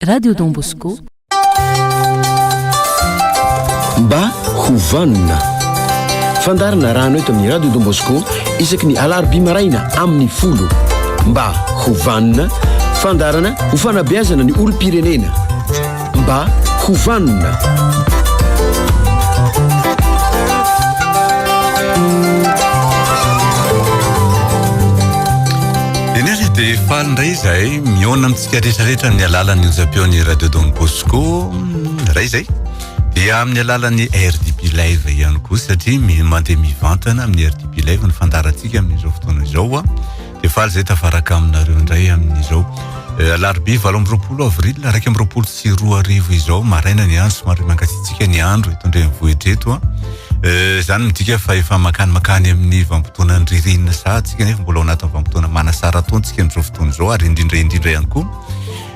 Radio Don Bosco. Mba ho vanona. Fandarina rano eto amin'ny Radio Don Bosco isaky ny alarobia maraina amin'ny folo. Mba ho vanona, fandarana ho fanabeazana ny olom-pirenena. Mba ho vanona. Faly ndray izahay Mihaona amintsika rehetra rehetra amin'ny alalan'ny onjam-peon'ny Radio Don Bosco iray izay dia amin'ny alalan'ny RDB Live ihany koa satria mandeha mivantana amin'ny RDB Live ny fandarantsika amin'izao fotoana izao dia faly izay tafaraka aminareo indray amin'izao eh, alarobia valo amby roapolo avril araiky amby roapolo sy roa arivo izao maraina ny andro somary mankatsiatsiaka ny andro eto an-drenivohitra eto Eh, izany midika fa efa mankany mankany amin'ny vanimpotoanan'ny ririnina sahady tsika nefa mbola ao anatin'ny vanimpotoana manasara taona tsika amin'izao fotoana izao ary indrindra indrindra ihany koa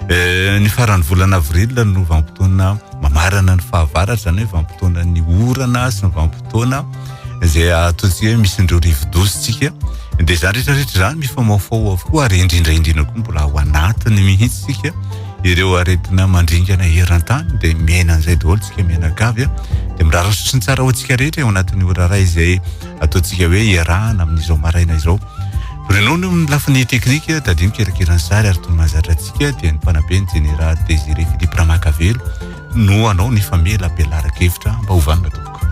eh, ny faran'ny volana avril no vanimpotoana mamarana ny fahavaratra izany hoe vanimpotoana ny orana sy ny vanimpotoana izay ataontsika hoe misy indreo rivodozy tsika dia izany rehetra rehetra izany mifamaofao avokoa ary indrindra indrindra koa mbola ao anatiny mihitsy tsika ireo aretina mandringana eran-tany dia miaina an'izay daholo tsika mianakavy a dia mirara soa sy ny tsara ho antsika rehetra eo anatin'ny ora iray izay ataontsika hoe iarahana amin'izao maraina izao Ronono amin'ny lafiny teknika tadino kirakirany sary ary toy mahazatra antsika dia ny mpanabe ny jeneraly Désiré Philippe Ramakavelo no anao ny famela belara-kevitra mba hovanona tompoko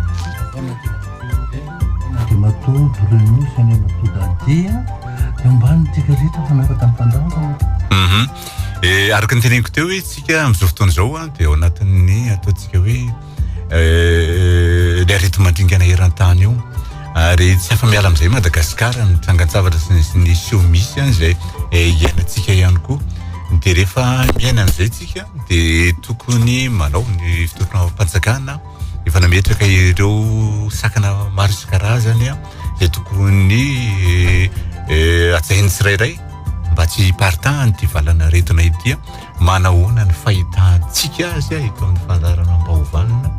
Andriamatoa Bruno Fiainanatoa Dadia eo ambanintsika rehetra fanaraka ny fandaharana. Mhm. Eh, araka ny teneniko teo hoe tsika amin'izao fotoana izao a, dia ao anatin'ny ataontsika hoe eh, le aretimandringana eran-tany io. Ary tsy afa-miala amin'izay Madagasikara, ny trangan-tsavatra sy ny- sy ny seho misy any izay eh, iainantsika ihany koa. Dia rehefa miaina an'izay tsika, dia tokony manao ny fitondram-panjakana efa nametraka ireo sakana maro isan-karazany a, izay tokony eh, hajain'ny tsirairay. Mba tsy hiparitahan'ity valan'aretina ity, manahoana ny fahitantsika azy eto amin'ny fandaharana Ampaovanina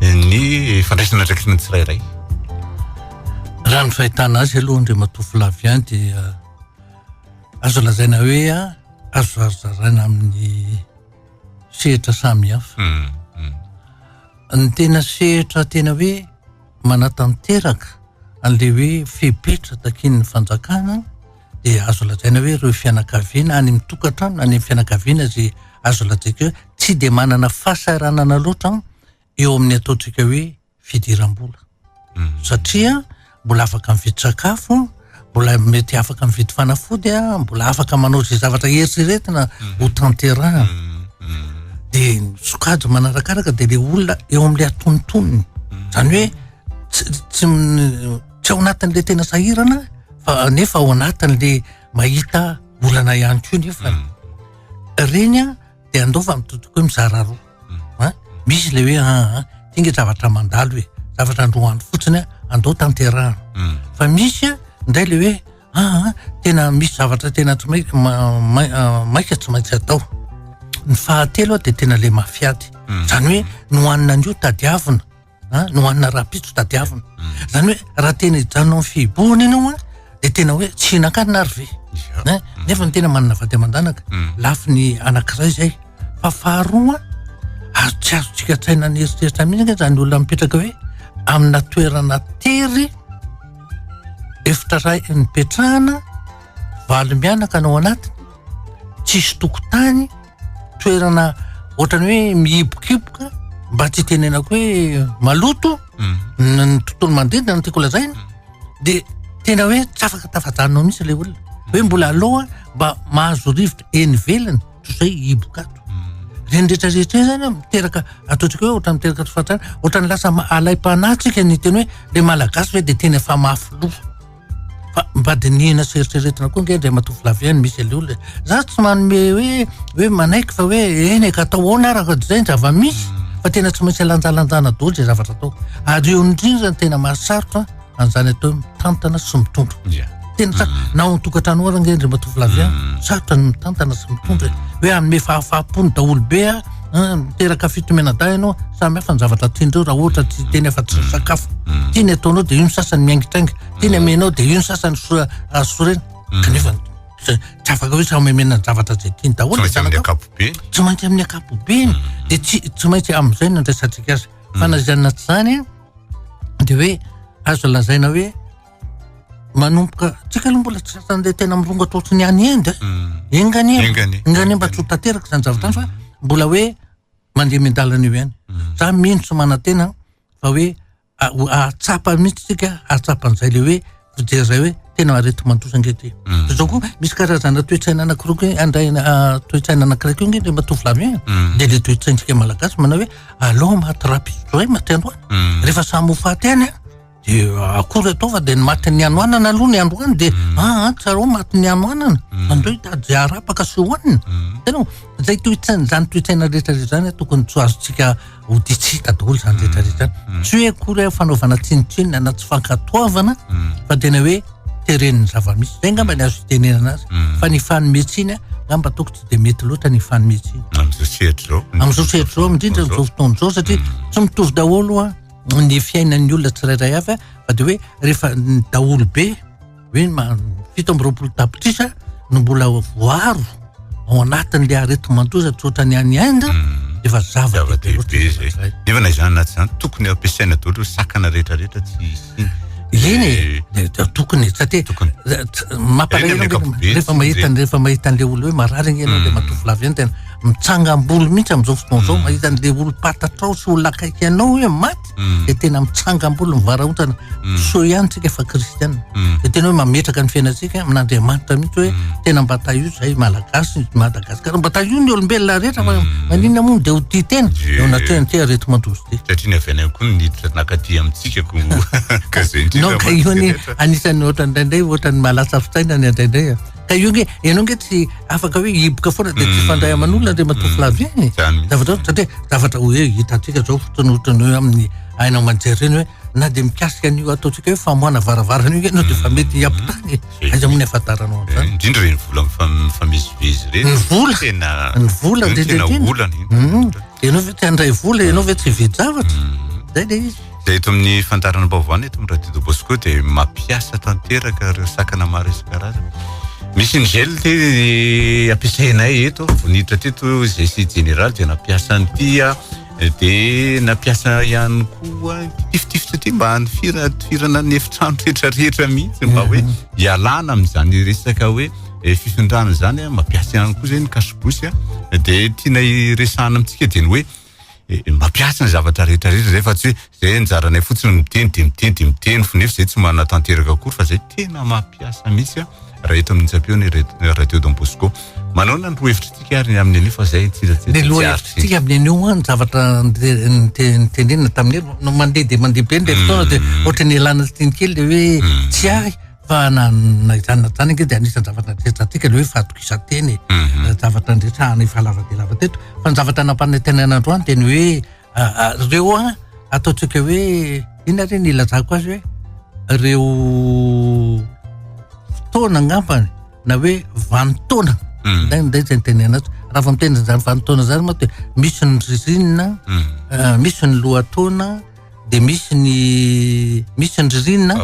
ny fandraisana andraikitra ny tsirairay? Raha ny fahitana azy aloha Andriamatoa Flavien dia azo lazaina hoe azo zarazaraina amin'ny sehatra samihafa. Hmm, hmm. Ny tena sehatra tena hoe manatanteraka an'ilay hoe fepetra takian'ny fanjakana dia azo lazaina hoe ireo fianakaviana any amin'ny tokantrano any amin'ny fianakaviana izay azo lazaiko hoe tsy dia manana fahasahiranana loatra eo amin'ny ataontsika hoe fidiram-bola hmm. satria mbola afaka mividy sakafo mbola mety afaka mividy fanafody a mbola afaka manao izay zavatra eritreretina hmm. ho tanterahana hmm. dia sokajy manarakaraka dia le olona eo amin'ilay atonontonony izany hoe tsy tsy ao anatin'ilay tena sahirana fa nefa ao anatin'ilay mahita olana ihany koa nefa mm. reny a dia andao fa mitotoko hoe mizara roa mm. misy ilay hoe aa ah, ah, tinga zavatra mandalo e zavatra androany fotsiny a andao tanterahana mm. fa misy a indray le hoe aa ah, tena misy zavatra tena tsy maik maika tsy maintsy atao ny fahatelo a dia tena le mafiady zany hoe nohanina an'io tadiavina a no hanina rahampitso tadiavina zany hoe raha tena hijanona amin'ny fihibohana ianao a de tena hoe tsy hihinan-kanina ary ve a nefa ny tena manana vady aman-danaka lafiny anankiray zay fa faharoa azo tsy azontsika an-tsaina ny eritreritra mihitsy anie zany olona mipetraka hoe amina toerana tery efitra ray nipetrahana valo mianaka no ao anatiny tsisy tokotany toerana ohatrany hoe mihibokiboka mba tsy hitenenako hoe maloto mm. ny tontolo manodidina no tiako lazaina mm. dia tena hoe tsy afaka tafajanona ao mihitsy ilay olona hoe mm. mbola aloha mba mahazo rivotra eny velany toy izay hibokato reny rehetrarehetra e zany miteraka ataontsika hoe ohatrany miteraka tofatrany ohatrany lasa alaim-panahy tsika ny teny hoe le malagasy hoe dia tena efa mafy loha Fa mba dinihina sy eritreretina koa ange Andriamatoa Flavien ny misy aleola e. Za tsy manome hoe hoe manaiky fa hoe eny e ka atao ahoana ary raha izay ny zava-misy hmm. fa tena tsy maintsy alanjalanjana daholo izay zavatra atao. Ary eo indrindra ny tena mahasarotra an'izany atao hoe mitantana sy mitondra. Yeah. Tena sa hmm. na ao an-tokantrano ary ange Andriamatoa Flavien hmm. sarotra ny mitantana sy mitondra hoe hanome fahafaham-pony daholo be a Ah, miteraka fitomenadahy ianao samy hafa ny zavatra tian'ireo raha ohatra tsy teny afa tsy ny sakafo mm. tiany ataonao dia io ny sasany miaingitrainga tiany amenao dia io ny sasany sorena mm. kanefa tsy afaka hoe samy amena ny zavatra zay tiany daholo tsy maintsy amin'ny akapobeny mm. dia tsy tsy maintsy amin'izay ny andraisantsika azy fa na izany na tsy izany dia hoe azo lazaina hoe manomboka tsika aloha mbola tsy sasany tena mirongatra ohatry ny any Inde eh. enganie mm. enganie enganie mba tsy ho tanteraka izany zavatra izany fa mm. mbola hoe mandeha mendalana eo ihany mm. za mino tsy manantena fa hoe ahatsapa mihitsy tsika ahatsapan'izay le hoe fijery zay hoe tena arety mandosa nge ty zao koa misy karazana toetsaina anankiroa ke andray ah, toetsaina anankiray ko nge le matovolavi de le toetsaintsika malagasy manao hoe alao maty rapizoay matiandroany rehefa samy ho faty any a De akory ataova de ny matin'ny hanoanana aloha ny androany de hmm. ah, ah tsarao matin'ny hanoanana hmm. andreo hitady zay arapaka sy hohanina hmm. tena zay toetsaina zany toetsaina rehetra rehetra zany tokony tsy azontsika hoditsita daholo zany rehetra rehetra zany tsy hoe akory hoe fanaovana tsinotsinona na tsy fankatoavana fa tena hoe teren'ny zavamisy zay ngamba ny azo hitenenana azy fa ny fanometsiny ngamba toko tsy de mety loatra ny fanometsiny am'zao sehatrizao am'zao sehatrizao indrindra am'zao fotoana zao satria tsy mitovy daholo a ny fiainan'ny olona tsirairay avy fa de hoe rehefa ny daholo be hoe fito amby roapolo tapitrisa no mbola voaro ao anatin'le aretimatoza tsotra ny any Inde hmm. efa zava-dehibe zay nefa na izany na tsy izany tokony ampiasaina daholo sakana rehetrarehetra tsy hisy eny eh, tokony satria tokony mampalahelo rehefa mahita rehefa mahita an'le olo hoe marary igny ianao de hmm. matovo lavy eny tena mitsangam-bolo mihitsy amin'izao fotoana izao mm. mahita an'le olom-patatrao sy olona akaiky anao hoe maty mm. de tena mitsangam-bolo mivarahotana mm. so ihany tsika fa kristiana de tena hoe mametraka ny fiainantsika amin'andriamanitra mihitsy hoe tena mba tahio zay malagasy madagasikara mba tahio ny olombelona rehetra fa manina moa de ho tia tena eo anatrehany ty arety mandozy ty satria ny avy any koa ny niditra nakaty amintsika ko ka zay indrindra non ka io anisan'ny ohatran'indraindray ohatran'ny mahalasa fitaina ny andraindray Ka io nge, ianao nge tsy afaka hoe hiboka foana dia tsy fandray aman'olona Andriamatoa mm. Flavien e. Zavatra satria zavatra hoe hitantsika zao fotoana ohatrany hoe amin'ny aina aman-jery ireny hoe na dia mikasika an'io ataontsika hoe famoahana varavarana io ianao dia fa mety mm. hiampitany e. Aiza moa ny ahafantaranao an'izany. Eh, indrindra ireny vola mifamezivezy ireny. Ny vola. Tena ny vola indrindra indrindra. Tena olana. Mm. Ianao ve tsy handray vola, ianao ve tsy hividy zavatra. Zay le izy. Dia eto amin'ny fandaharana baovao eto amin'ny Radio Bosco dia mampiasa tanteraka ireo sakana maro isan-karazany. Misy ny gel ty ampiasainay eto, vonitra teto izay sy général dia nampiasa ny tia eh, dia nampiasa ihany koa tifitifitra ty mba hanifira tifirana ny efitrano rehetra rehetra mihitsy mba hoe hialana amin'izany resaka hoe eh, fifindrana izany, eh, mampiasa ihany koa izay ny kasibosy, eh, dia tiana iresahana amintsika dia ny hoe mba piatsy ny zavatra rehetra rehetra zay fa tsy hoe zay anjaranay fotsiny miteny de miteny de miteny fo nefa zay tsy manatanteraka akory fa zay tena mapiasa mihitsy raha eto amin'ny tsapeo ny radio Don Bosco manona ny roa hevitritsika ary ny amin'ny anio fa zay tsy tsy ny roa hevitritsika amin'ny anio an zavatra nitenenina tamin'ny no mandeha de mandeha be ny fotoana de ohatry ny elana tsiny kely le hoe tsy ary Fa na na izany na izany ange dia anisan'ny zavatra natretrahantsika ilay hoe fahatokisan-tena e. Mhm. Zavatra niresahana efa lava dia lava teto. Fa ny zavatra nampanantenaina androany dia ny hoe ah, ah, ireo an ataontsika hoe inona ary ny ilazako azy hoe ireo fotoana angambany na hoe vanin-taona Mhm. nday nday izay nitenena azy. Raha vao miteny izany vanin-taona izany moa dia misy ny ririnina, Mhm. ah, misy ny lohataona, dia misy ny misy ny ririnina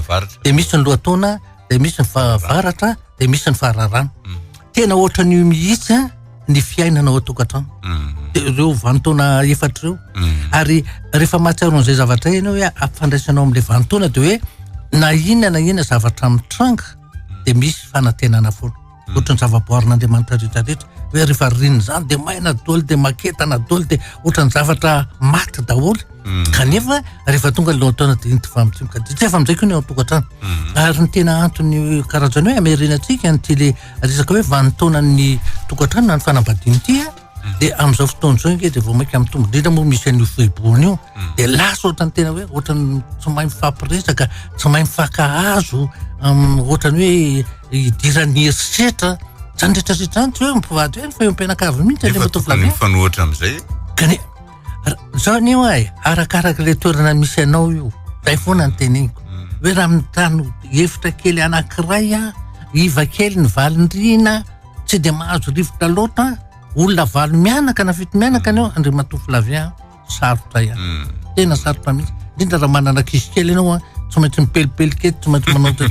dia misy ny lohataona dia misy ny fahavaratra dia misy ny fahararana mm. tena ohatra ny mihitsy a ny fiainana ao atokantrano mm. dia ireo vantaona efatra ireo mm. ary rehefa mahatsiaro an'izay zavatra ianao hoe ampifandraisanao amin'ilay vantaona dia hoe na inona na inona zavatra mitranga dia misy fanantenana foana Ohatry ny zavaboarin'Andriamanitra rehetra rehetra hoe rehefa ririnina izany dia maina doly dia maketana doly dia ohatry ny zavatra maty daholo hmm. kanefa rehefa tonga ny lohantaona dia inty famotsiaka dia tsy efa amin'izay koa ny ao an-tokantrano hmm. ary ny tena antony karazany hoe amerina antsika ny tele resaka hoe vanintaonan'ny tokantrano na ny fanambadian'ity de am'zao fotoana zao nge de vao mainka mitombo indrindra moa misy an'io foibohony io hmm. de lasa ohatrany tena hoe ohatrany tsy mahay mifampiresaka tsy mahay mifankahazo ohatrany hoe hidiran'ny herisetra zany retraretra any tsy hoe mpivady hoe ny fahompianakavy mihitsy le motovlavy fanohatra am'zay kane zao anio ay arakaraka le toerana misy anao io zay foana ny teneniko hmm. hoe raha mitano hevitra kely anankiray a iva kely ny valindrina Tsy dia mahazo rivotra loatra an! Olona valo mianaka na fito mianaka anio Andriamatoa Flavien an! Sarotra ihany. Tena sarotra mihitsy. Indrindra raha manana ankizy kely ianao an! Tsy maintsy mipelipely kely, tsy maintsy manao tsy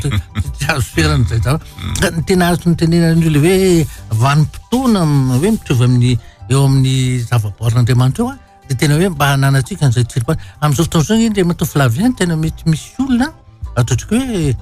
tsy azo ferana izay zavatra. Ka ny tena azoko notenenana an'io le hoe vanim-potoana hoe mitovy amin'ny eo amin'ny zavaboarin'Andriamanitra eo an! dia tena hoe mba hananatsika an'izay tsiripà amin'izao fotoana izao indray matoa Flavien no tena mety misy olona ato otrika hoe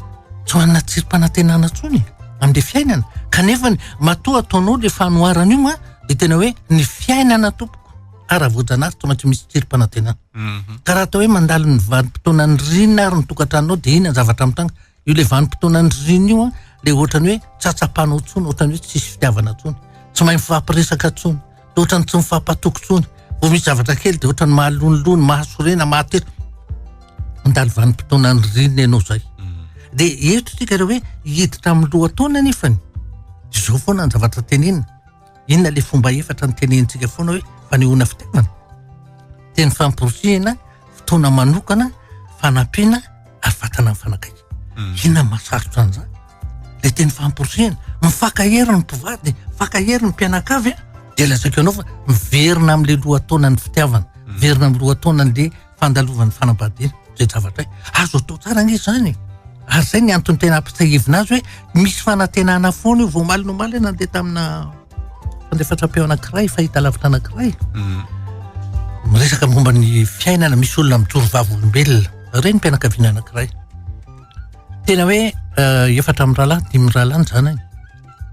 tsy manana tsiri-panantenana intsony amin'ilay fiainana kanefa ny matoa ataonao ilay fanoharana io a dia tena hoe ny fiainana tompoko ka raha voajanahary tsy maintsy misy tsiri-panantenana mhm. ka raha atao hoe mandalo ny vanim-potoanan'ny rina ary ny tokantranonao dia ina ny zavatra mitanga Io le vanim-potoanan'ny ririnina io an, le ohatran'ny hoe tsy atsapanao intsony, ohatran'ny hoe tsisy fitiavana intsony, tsy mahay mifampiresaka intsony, dia ohatran'ny tsy mifampatoky intsony. Vao misy zavatra kely dia ohatran'ny mahalonilony, mahasorena, mahatera. Mandalo vanim-potoanan'ny ririnina ianao izay. Dia eto isika raha hoe hiditra amin'ny lohataona nefany, izao foana ny zavatra tenenina. Inona ilay fomba efatra nitenenintsika foana hoe fanehoana fitiavana? Teny famporisihina, fotoana manokana, fanampiana ary vatana mifanakaiky. Hmm. Inona no mahasarotra an'izany? Ilay teny famporisihina, mifankahery ny mpivady, mifankahery ny mpianakavy, dia lazaiko ianao fa miverina amin'ilay lohataonan'ny fitiavana, hmm. miverina amin'ny lohataonan'ilay fandalovan'ny fanambadiana izay zavatra hoe azo atao tsara anie izany e! ary izay ny antony tena ampitsiahivina azy hoe misy fanantenana foana io vao omaly ny omaly hoe nandeha tamina fandefasam-peo anankiray fahita lavitra anankiray mm. miresaka momba ny fiainana misy olona mijoro vavolombelona ireny mpianakaviana anankiray tena hoe eh, efatra amin'ny rahalahy dimy rahalahy ny zanany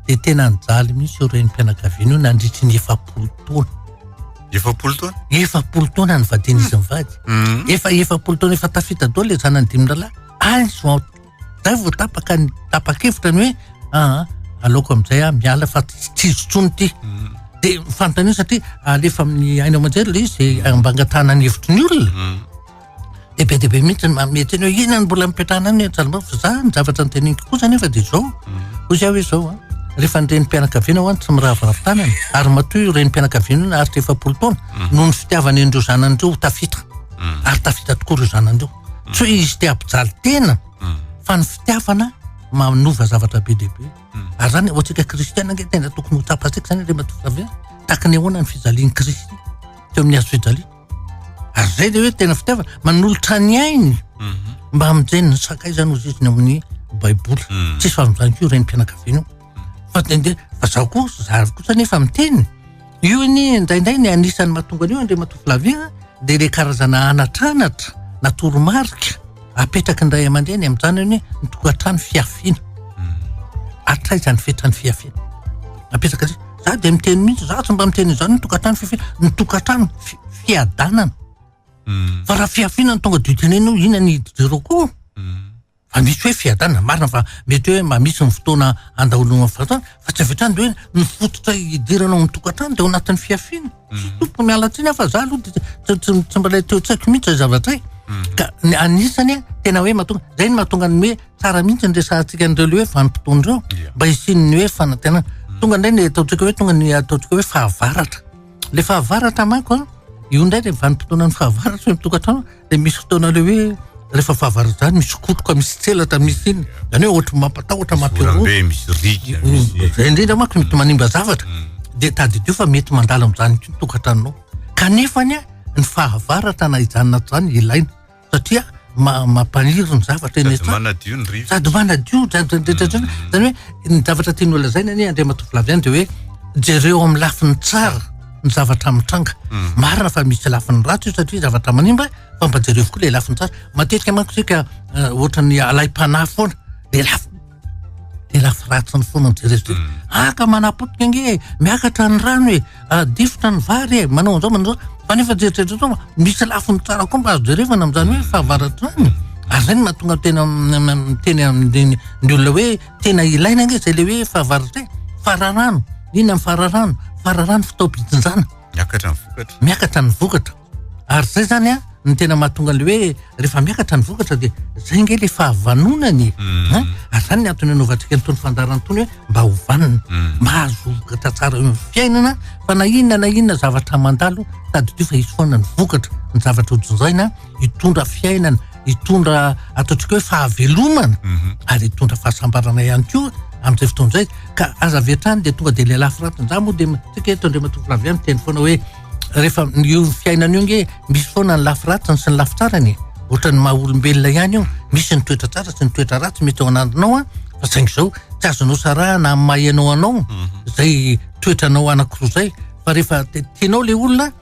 dia tena nijaly mihitsy ireo renim-pianakaviana io nandritry ny efapolo taona. Efapolo taona? Efapolo taona ny vadin'izy hmm. mivady. Hmm. Efa efapolo taona efa tafita daholo ilay zanany dimy rahalahy. Any zao zay vao tapaka ny tapa-kevitra ny hoe aa ah, ah, aloka amin'izay aho miala fa tsy izotsony ity. Hmm. Dia fanontaniana satria alefa amin'ny aina aman-jery ilay izy ambangatahanany hevitry ny olona. dia be dia be mihitsy ny manome teny hoe inona no mbola mipetrahana any Antsaharimbavy fa za ny zavatra noteneniko kosa anefa dia izao hoy za hoe izao a rehefa ny renim-pianakaviana ho any tsy miraviravy tanana ary matoa io renim-pianakaviana io naharitra efapolo taona mm. noho ny fitiavany an'ireo zanany ireo ho tafita mm. ary tafita tokoa ireo zanany ireo mm. tsy hoe izy te hampijaly tena fa ny fitiavana manova zavatra be dia be ary zany ho antsika kristiana ange tena tokony ho tsapantsika zany re matoa tahaka ny ahoana ny fijalian'i kristy teo amin'ny hazo fijaliana ary zay le hoe tena fitiavana manolotra ny ainy mhm. mba mijeniny sakay zany ozy izy ny amin'ny baiboly mhm. tsisy fahaminzany ko reny mpianakaviana mhm. fa tende fa zaho koa zary kosa nefa miteny io anie indraindray ny anisan'ny mahatonga an'io andre matofilavia de le karazana anatranatra na toromarika apetraky ny ray aman-dreny amin'izany anie ny tokantrano fiafiana hatraizany fetrany fiafiana apetraka Za dia miteny mihitsy, za tsy mba miteny izany ny tokantrano fifin-, ny tokantrano fi- fiadanana. Fa raha fihafiana no tonga dia ho tenenina hoe ina ny hidy jereo koa. Fa misy hoe fiadanana, marina fa mety hoe mba misy ny fotoana andaholonao fa tsy avy hatrany dia hoe ny fototra hidirana ao amin'ny tokantrano dia ao anatin'ny fihafiana. Tsy tokony miala tsiny aho fa za aloha dia tsy- tsy tsy mbola teo an-tsaiko mihitsy izay zavatra izay. Ka ny anisany hoe tena hoe mahatonga, izay no mahatonga ny hoe tsara mihitsy ny resahantsika an'ireo le hoe vanim-potoana ireo Ia. mba hisian'ny hoe fanantenana. Tonga indray ny ataontsika hoe tonga ny ataontsika hoe fahavaratra. Le fahavaratra manko an, io indray dia vanim-potoanan'ny fahavaratra eo an-tokantrano. dia misy fotoana ilay hoe rehefa fahavarajany misy kotroka misy tselatra misy iny zany hoe ohatry mampatahotra mampirobe misy riga mm. misy zay indrindra manko mety manimba zavatra mm. dia tadidio fa mety mandala amin'izany koa ny tokantranonao kanefa ny a ny fahavaratra na hijanona zany ilaina satria mampaniry ny zavatra eny sady manadio ny rivotra sady manadio zany mm. zany hoe ny zavatra tian'olona zaina anie andriamatoa filaviany dia hoe jereo amin'ny lafiny tsara ny zavatra mitranga. Hmm. Marina fa misy lafiny ratsy io satria zavatra manimba fa mba jereo koa le lafiny tsara. Matetika manko tsika eh, ohatran'ny alaim-panahy foana de lafy de lafy ratsiny foana ny jereo zay. Hmm. Aka ah, manapotika nge e, miakatra ny rano e, ah, difotra ny vary e, manao an'izao manao an'izao. Fa nefa jerijereo zao misy lafiny tsara koa mba azo jerevana amin'izany hoe fahavaratrany. Ary zay no mahatonga tena miteny amin'ny olona hoe tena ilaina ange zay le hoe fahavarotena fararano inona ny fararano fararano fitaom-pitsinjana miakatra ny vokatra miakatra ny vokatra ary zay zany a ny tena mahatonga le hoe rehefa miakatra ny vokatra de zay nge le fahavanonany hmm. eh? ary zany ny antony anaovantsika nytony fandarana tony hoe mba ho vanona hmm. mba hahazo vokatra tsara eo fiainana fa na inona na inona zavatra mandalo tadidio fa hisy foana ny vokatra ny zavatra hojinjaina hitondra fiainana hitondra ataontsika hoe fahavelomana mhm. ary hitondra fahasambarana ihany koa amin'izay fotoana izay ka aza avy hatrany dia tonga dia ilay lafiraty za moa dia tsika eto andriamatoa lavia miteny foana hoe rehefa io fiainana io nge misy foana ny lafiratiny sy ny lafitsarany ohatra ny maha olombelona ihany io misy ny toetra tsara sy ny toetra ratsy mety ao anandrinao a fa saingy izao tsy azonao sarahana amin'ny maha ianao anao mhm. izay toetranao anankiroa izay fa rehefa tianao ilay olona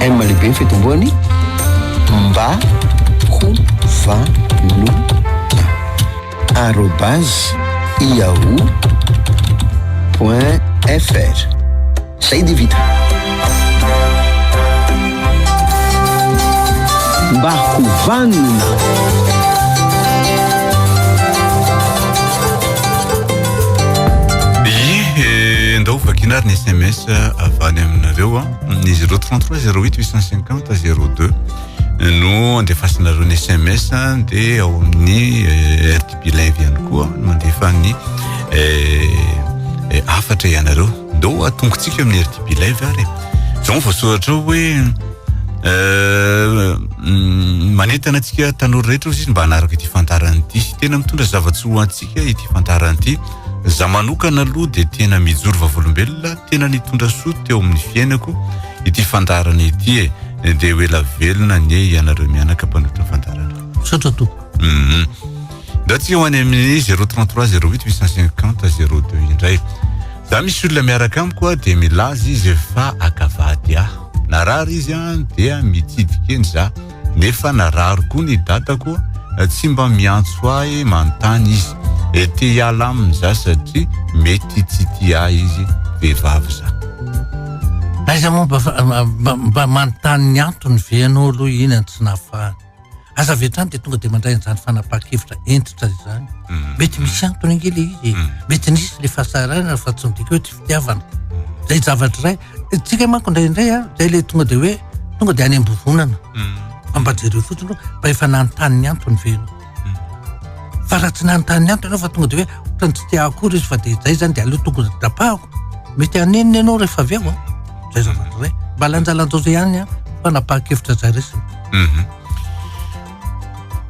M lehibe ny fitomboany mba ho vanona arobase yahoo point fr zay dia vita mba ho vanona Vakiana ary ny SMS avy any aminareo. ny 033 08 850 02 no andefasinareo ny sms dia ao amin'ny eh, rdb live ihany koa no mandefa ny eh, afatra ianareo ndao atongotsika amin'ny rdb live ary zao voasoratra ao hoe Euh, mm, manentana antsika tanora rehetra ozy izy mba hanaraka ity fantarana ity tena mitondra zava-tsy ho antsika ity fantarana ity Za manokana aloha dia tena mijoro vavolombelona tena nitondra soa teo amin'ny fiainako ity fandaharana ity e dia ho ela velona anie ianareo mianaka mpanotra fandaharana misaotra tompoko mhm. ndatsika ho any amin'ny 033 08 850 02 indray za misy olona miaraka amiko a dia milaza izy fa akavady aho narary izy a dia mitsidikeny za nefa narary koa ny dadako tsy mba miantso ahy manontany izy eh, te hiala aminy za satria mety tsy tia ahy izy, vehivavy za. Aiza moa mba mba mba manontany ny antony ve ianao aloha iny no tsy nahafahany? Aza avy hatrany dia tonga dia mandray an'izany fanapahan-kevitra hentitra izany. Mety misy antony ange ilay izy e, mety nisy ilay fahasahiranana fa tsy midika hoe tsy fitiavana. Izay zavatra iray. Tsika manko indraindray a, zay le tonga de hoe tonga de any ambovonana. Fa mba jereo fotsiny hoe mba efa nanontany ny antony ve ianao. Fa raha tsy nanontany ny antony ianao fa tonga de hoe ohatran'ny tsy te akory izy fa de zay zany de aleo tokony tapahako. Mety hanenina ianao rehefa avy eo a. Zay zavatra zay. Mba lanjalanjao zay ihany ny fanapahan-kevitra zay resiny.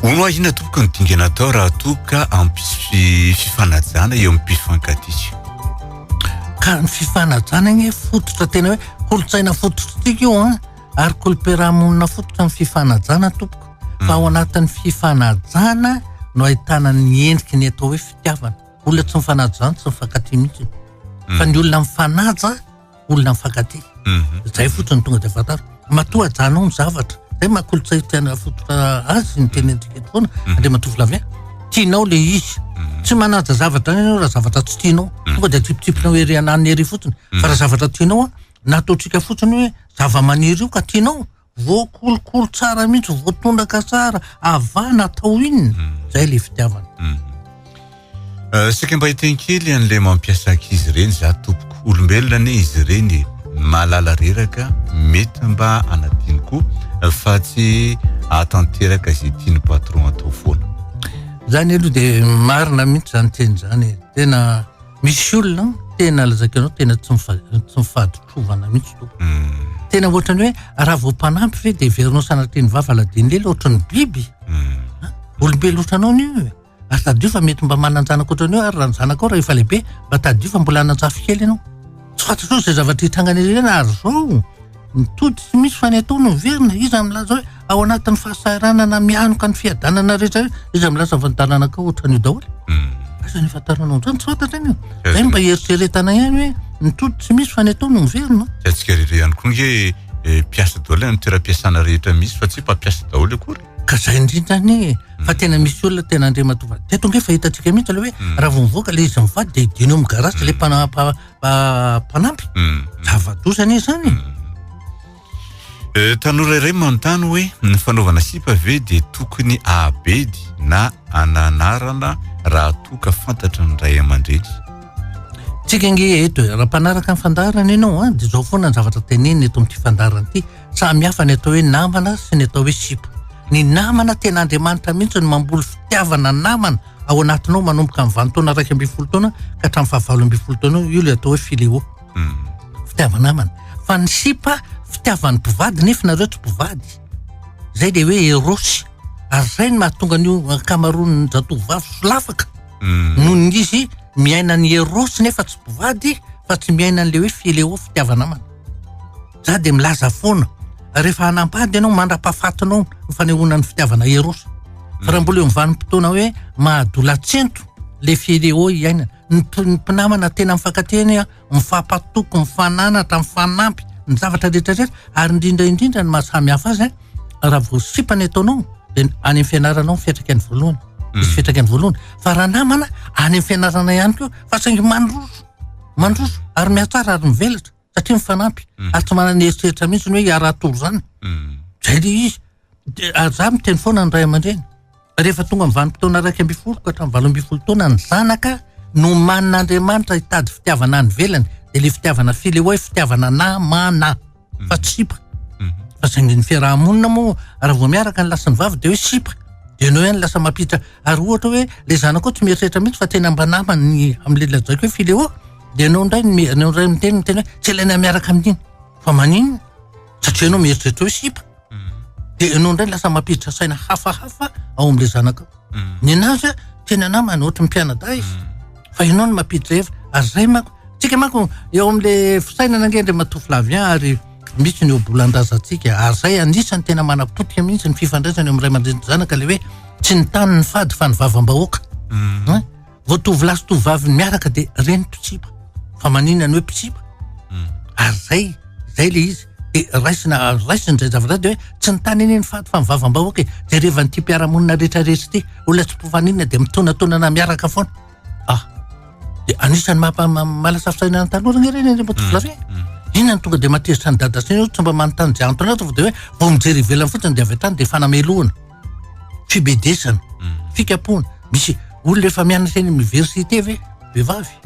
Hono hoa inona tompoko ny dingana atao raha toa ka hampisy fifanajana eo amin'ny mpifankatia? Ka ny fifanajana anie fototra tena hoe kolontsaina fototr'tika io an, ary kolom-piarahamonina fototra ny fifanajana tompoko. Fa ao anatin'ny fifanajana no ahitana ny endriky ny atao hoe fitiavana. Olona tsy mifanaja izany tsy mifankatia mihitsy. Fa ny olona mifanaja. olona mifankatia. Mhm. Zay fotsiny tonga dia fantaro. Matoa ajanao ny zavatra. Zay maha kolotsay tiana fototra azy ny teny antsika eto foana. Mhm. Andriamatoa Flavien, tianao le izy. Mhm. Tsy manaja zavatra any ianao raha zavatra tsy tianao. Tonga dia tsipitsipinao ery ananiny ery fotsiny. Fa raha zavatra tianao, nataontsika fotsiny hoe zava-maniry io ka tianao. Voakolokolo tsara mihitsy, voatondraka tsara, avana atao inona, hmm. zay le fitiavana. Hmm. Euh, sika mba hitenkely an'le mampiasa ankizy ireny za tompoko olombelona ane izy ireny malala reraka mety mba anadino koa euh, fa tsy atanteraka izay tiany patron atao foana zany aloha de marina mihitsy zany teny zany e. tena Misy olona tena lazaiko anao tena tsy tsy mifaditrovana mihitsy to. Hmm. Tena ohatrany hoe raha vao mpanampy ve dia heverinao sanatria ny vava ladiny lela ohatrany biby. Hmm. Ah, olombelona ohatranao ny io. Ary tadidio fa mety mba manan-janaka ohatrany hoe ary raha ny zanakao raha efa lehibe mba tadidio fa mbola hanan-jafy kely ianao. Tsy fantatro izay zavatra hitrangana ireny ary izao ny tody tsy misy fa ny atao no miverina. Iza milaza hoe ao anatin'ny fahasahiranana mihanoka ny fiadanana rehetra io? Iza milaza fa ny taranakao ohatran'io daholo? Hmm. Aiza ny ifantaranao ohatrany? Tsy fantatra anio. Zay mba eritreretana ihany hoe ny tody tsy misy fa ny atao no miverina. Tsy haintsika rehetra ihany koa nge eh, mpiasa daholo any toeram-piasana rehetra misy fa tsy hoe mpampiasa daholo akory. Ka zay indrindra anie e, fa tena misy olona tena Andriamatoa Vady. Teto ange fa hitantsika mihitsy ilay hoe mm. raha vao mivoaka ilay izy mivady dia hidino amin'ny garage ilay mm. mpanampy. Mm. Zava-doza anie izany. Eh, tanora iray manontany hoe ny fanaovana sipa ve dia tokony abedy na ananarana raha toa ka fantatra ny ray aman-dreny tsika nge eto eh, raha mpanaraka ny fandaharana ianao a ah, dia izao foana ny zavatra tenenina eto amin'ity fandaharana ity Samy hafa ny atao hoe namana sy ny atao hoe sipa. Ny namana tena Andriamanitra mihitsy no mamboly fitiavana namana ao anatinao manomboka amin'ny valo taona iraika ambin'ny folo taona ka hatramin'ny fahavalo ambin'ny folo taona io ilay atao hoe fileo. Hmm. Fitiava-namana. Fa ny sipa fitiavan'ny mpivady nefa nareo tsy mpivady. Zay le hoe erosy. Ary zay ny mahatonga an'io ankamaroan'ny zatovovavy solafaka. Hmm. Noho ny izy miaina ny erosy nefa tsy mpivady fa tsy miaina an'le hoe fileo fitiava-namana. Za dia milaza foana, rehefa hanam-pady ianao mandra-pahafatinao ny fanehoana ny fitiavana eros. Fa raha mbola eo amin'ny vanim-potoana hoe mahadolatsento le phileo iainana, ny mpi- ny mpinamana tena mifankatia anie an, mifampatoky, mifananatra, mifanampy ny zavatra rehetra rehetra, ary indrindra indrindra ny mahasamy hafa azy an, raha vao sipa ny ataonao dia any amin'ny fianarana ao ny fiantraikany voalohany, misy fiantraikany voalohany, fa raha namana any amin'ny fianarana ihany koa, fa saingy mandroso, mandroso ary mihatsara ary mivelatra. satria mifanampy ary tsy manana eritreritra mihitsy ny hoe hiaraha tory izany zay le izy ary za miteny foana ny ray aman-dreny rehefa tonga amin'ny vanim-potoana iraika ambin'ny folo ka hatramin'ny valo ambin'ny folo taona ny zanaka no manin'Andriamanitra hitady fitiavana any ivelany dia le fitiavana file hoe fitiavana namana fa tsy sipa fa zay ny fiaraha-monina moa raha vao miaraka ny lahy ny vavy dia hoe sipa dia ny hoe ny lasa mampiditra ary ohatra hoe le zanaka ao tsy mieritreritra mihitsy fa tena mba namany amin'ny lehilahy zay koa hoe fileo Dia ianao indray no ianao indray no miteny miteny hoe tsy ilaina miaraka amin'iny. Fa maninona? Satria ianao mieritreritra hoe sipa. Mm. Dia ianao indray lasa mampiditra saina hafahafa ao amin'ilay zanakao. Mm. Ny anazy a, tena namana ohatry ny mpianadahy izy. Mm. Fa ianao no mampiditra hevitra. Ary izay manko, tsika manko eo amin'ilay fisainana ange dia matoa Flavien ary misy ny obolan-drazantsika. Ary izay anisan'ny tena manapotika mihitsy ny fifandraisana eo amin'ny ray aman-dreny zanaka ilay hoe tsy ny tany ny fady fa ny vavambahoaka. Mm. Vao tovolahy sy tovovavy miaraka dia reny mpitsipa. Fa maninona ny hoe mpitsipa? Hmm. Ary zay, zay le izy. Dia raisina, raisina izay zavatra izay dia hoe tsy ny tany anie ny faty fa ny vavam-bahoaka e. Jerevan'ity mpiara-monina rehetra rehetra ity. Olona tsy mpifaninona dia mitonatonana miaraka foana. Ah, dia anisan'ny maha-malasafisaina ny tanora anie ireny anie mba tovolahy hmm, hmm. Inona no tonga dia matezitra ny dada sy ny tsy mba manontany izay antony ato fa dia hoe vao mijery ivelany fotsiny dia avy hatrany dia fanamelohana. fibedesana, fikapoana. Misy olona efa mianatra eny université ve? Vehivavy.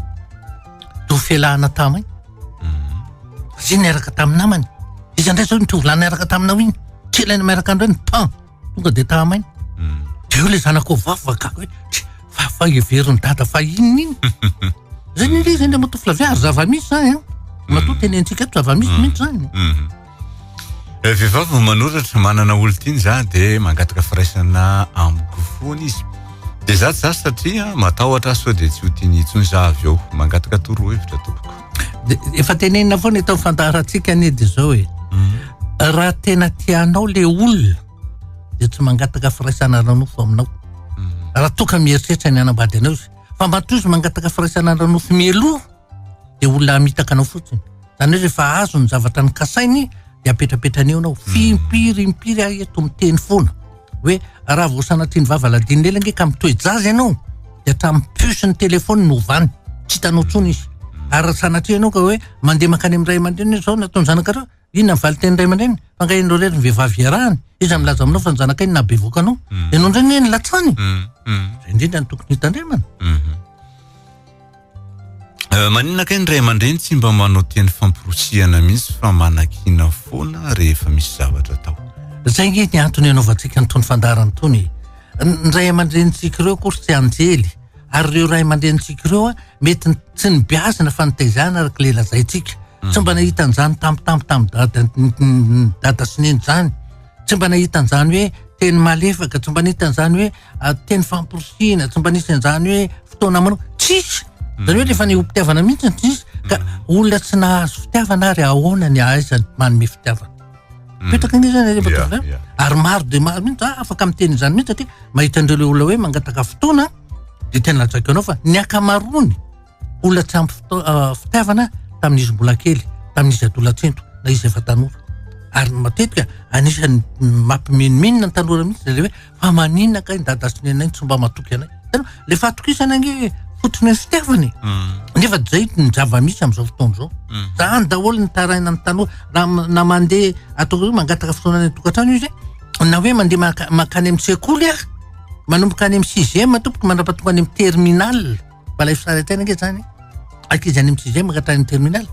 To felahana tamay. Zay niaraka tamin'ny namany. Iza ndray zao ny tovolahy niaraka taminao iny? Kela ny miaraka andreo ny pan. Tonga de tamay. Deo le zanako vavy vakako hoe fa fa heverin'ny dada fa inona iny? Zay ny le zay le matoa flavia ary zava-misy zany an. Matoa tenentsika eto zava-misy mihitsy zany. Eh, vehivavy no manoratra manana olo tiany za de mangataka firaisana amiko foana izy de za tsy za satria matahotra ahy sao de tsy ho tiany intsony za avy eo mangataka torohevitra tompoko de efa tenenina foana eto ny fandaharantsika anie de zao e mhm. raha tena tianao le olona de tsy mangataka firaisana ranofo aminao mhm. raha toka mieritreritra ny anambady anao izy fa matoa izy mangataka firaisana ranofo mialoha de olona hamitaka anao fotsiny Izany hoe rehefa azo ny zavatra nokasainy dia apetrapetrany eo ianao. Fimpiry impiry aho eto miteny foana hoe raha vao sanatria ny vava ladinina ela ange ka mitoe-jaza ianao dia hatramin'ny puce ny telefaony no ovany. Tsy hitanao intsony izy. Ary raha sanatria ianao ka hoe mandeha mankany amin'ny ray aman-dreniny hoe izao no ataon'ny zanakao, inona ny valin-tenin'ny ray aman-dreniny? Fa angaha ianareo irery no vehivavy iarahany? Iza no milaza aminao fa ny zanakay no nahabevohoka anao? Ianao indray anie no latsany e! Izay indrindra no tokony hitandremana. Euh, maninona kay ny ray aman-dreny tsy mba manao teny famporosihana mihitsy fa manakiana foana rehefa misy zavatra atao zay nge ny antony anaovantsika nytony fandarany tony ny ray aman-drenintsika ireo koa ry tsy anjely ary ireo ray aman-drenintsika ireo a mety tsy nibiazina fa nitaizana araka le lazaintsika hmm. tsy mba nahita an'izany tampotampo tamin'ny dada dada sy neny izany tsy mba nahita an'izany hoe teny malefaka tsy mba nahita an'izany hoe teny famporisihina, tsy mba nisy an'izany hoe fotoana manao, tsisy. Zany hoe rehefa ny ho-pitiavana mihitsy ny tsisy, ka olona tsy nahazo fitiavana ary ahoana ny ahaizany manome fitiavana. Mipetraka anie zany rehefa tonga zany. Ary maro dia maro mihitsy za afaka miteny izany mihitsy satria mahita an'ireo le olona hoe mangataka fotoana dia tena lazaiko anao fa ny ankamaroany, olona tsy ampy fitaavana tamin'izy mbola kely tamin'izy adolatsento na izy efa tanora ary ny matetika anisan'ny mampimenomenona ny tanora mihitsy zay le hoe fa manina kay ny dada sy ny anay ny tsy mba matoky anay tena le fahatokisana ange fototra ny fitiavana e mm. nefa zay ny zava-misy amin'izao fotoana izao mm. zany daholo ny taraina ny tanora na na mandeha atao hoe mangataka fotoana any tokantrano izy e. na hoe mandeha makany amin'ny sekoly ary manomboka any amin'ny sixième tompoko mandrapatonga any amin'ny terminale fa ilay fisaintsaina ange zany ankizy any amin'ny sixième ka hatrany terminal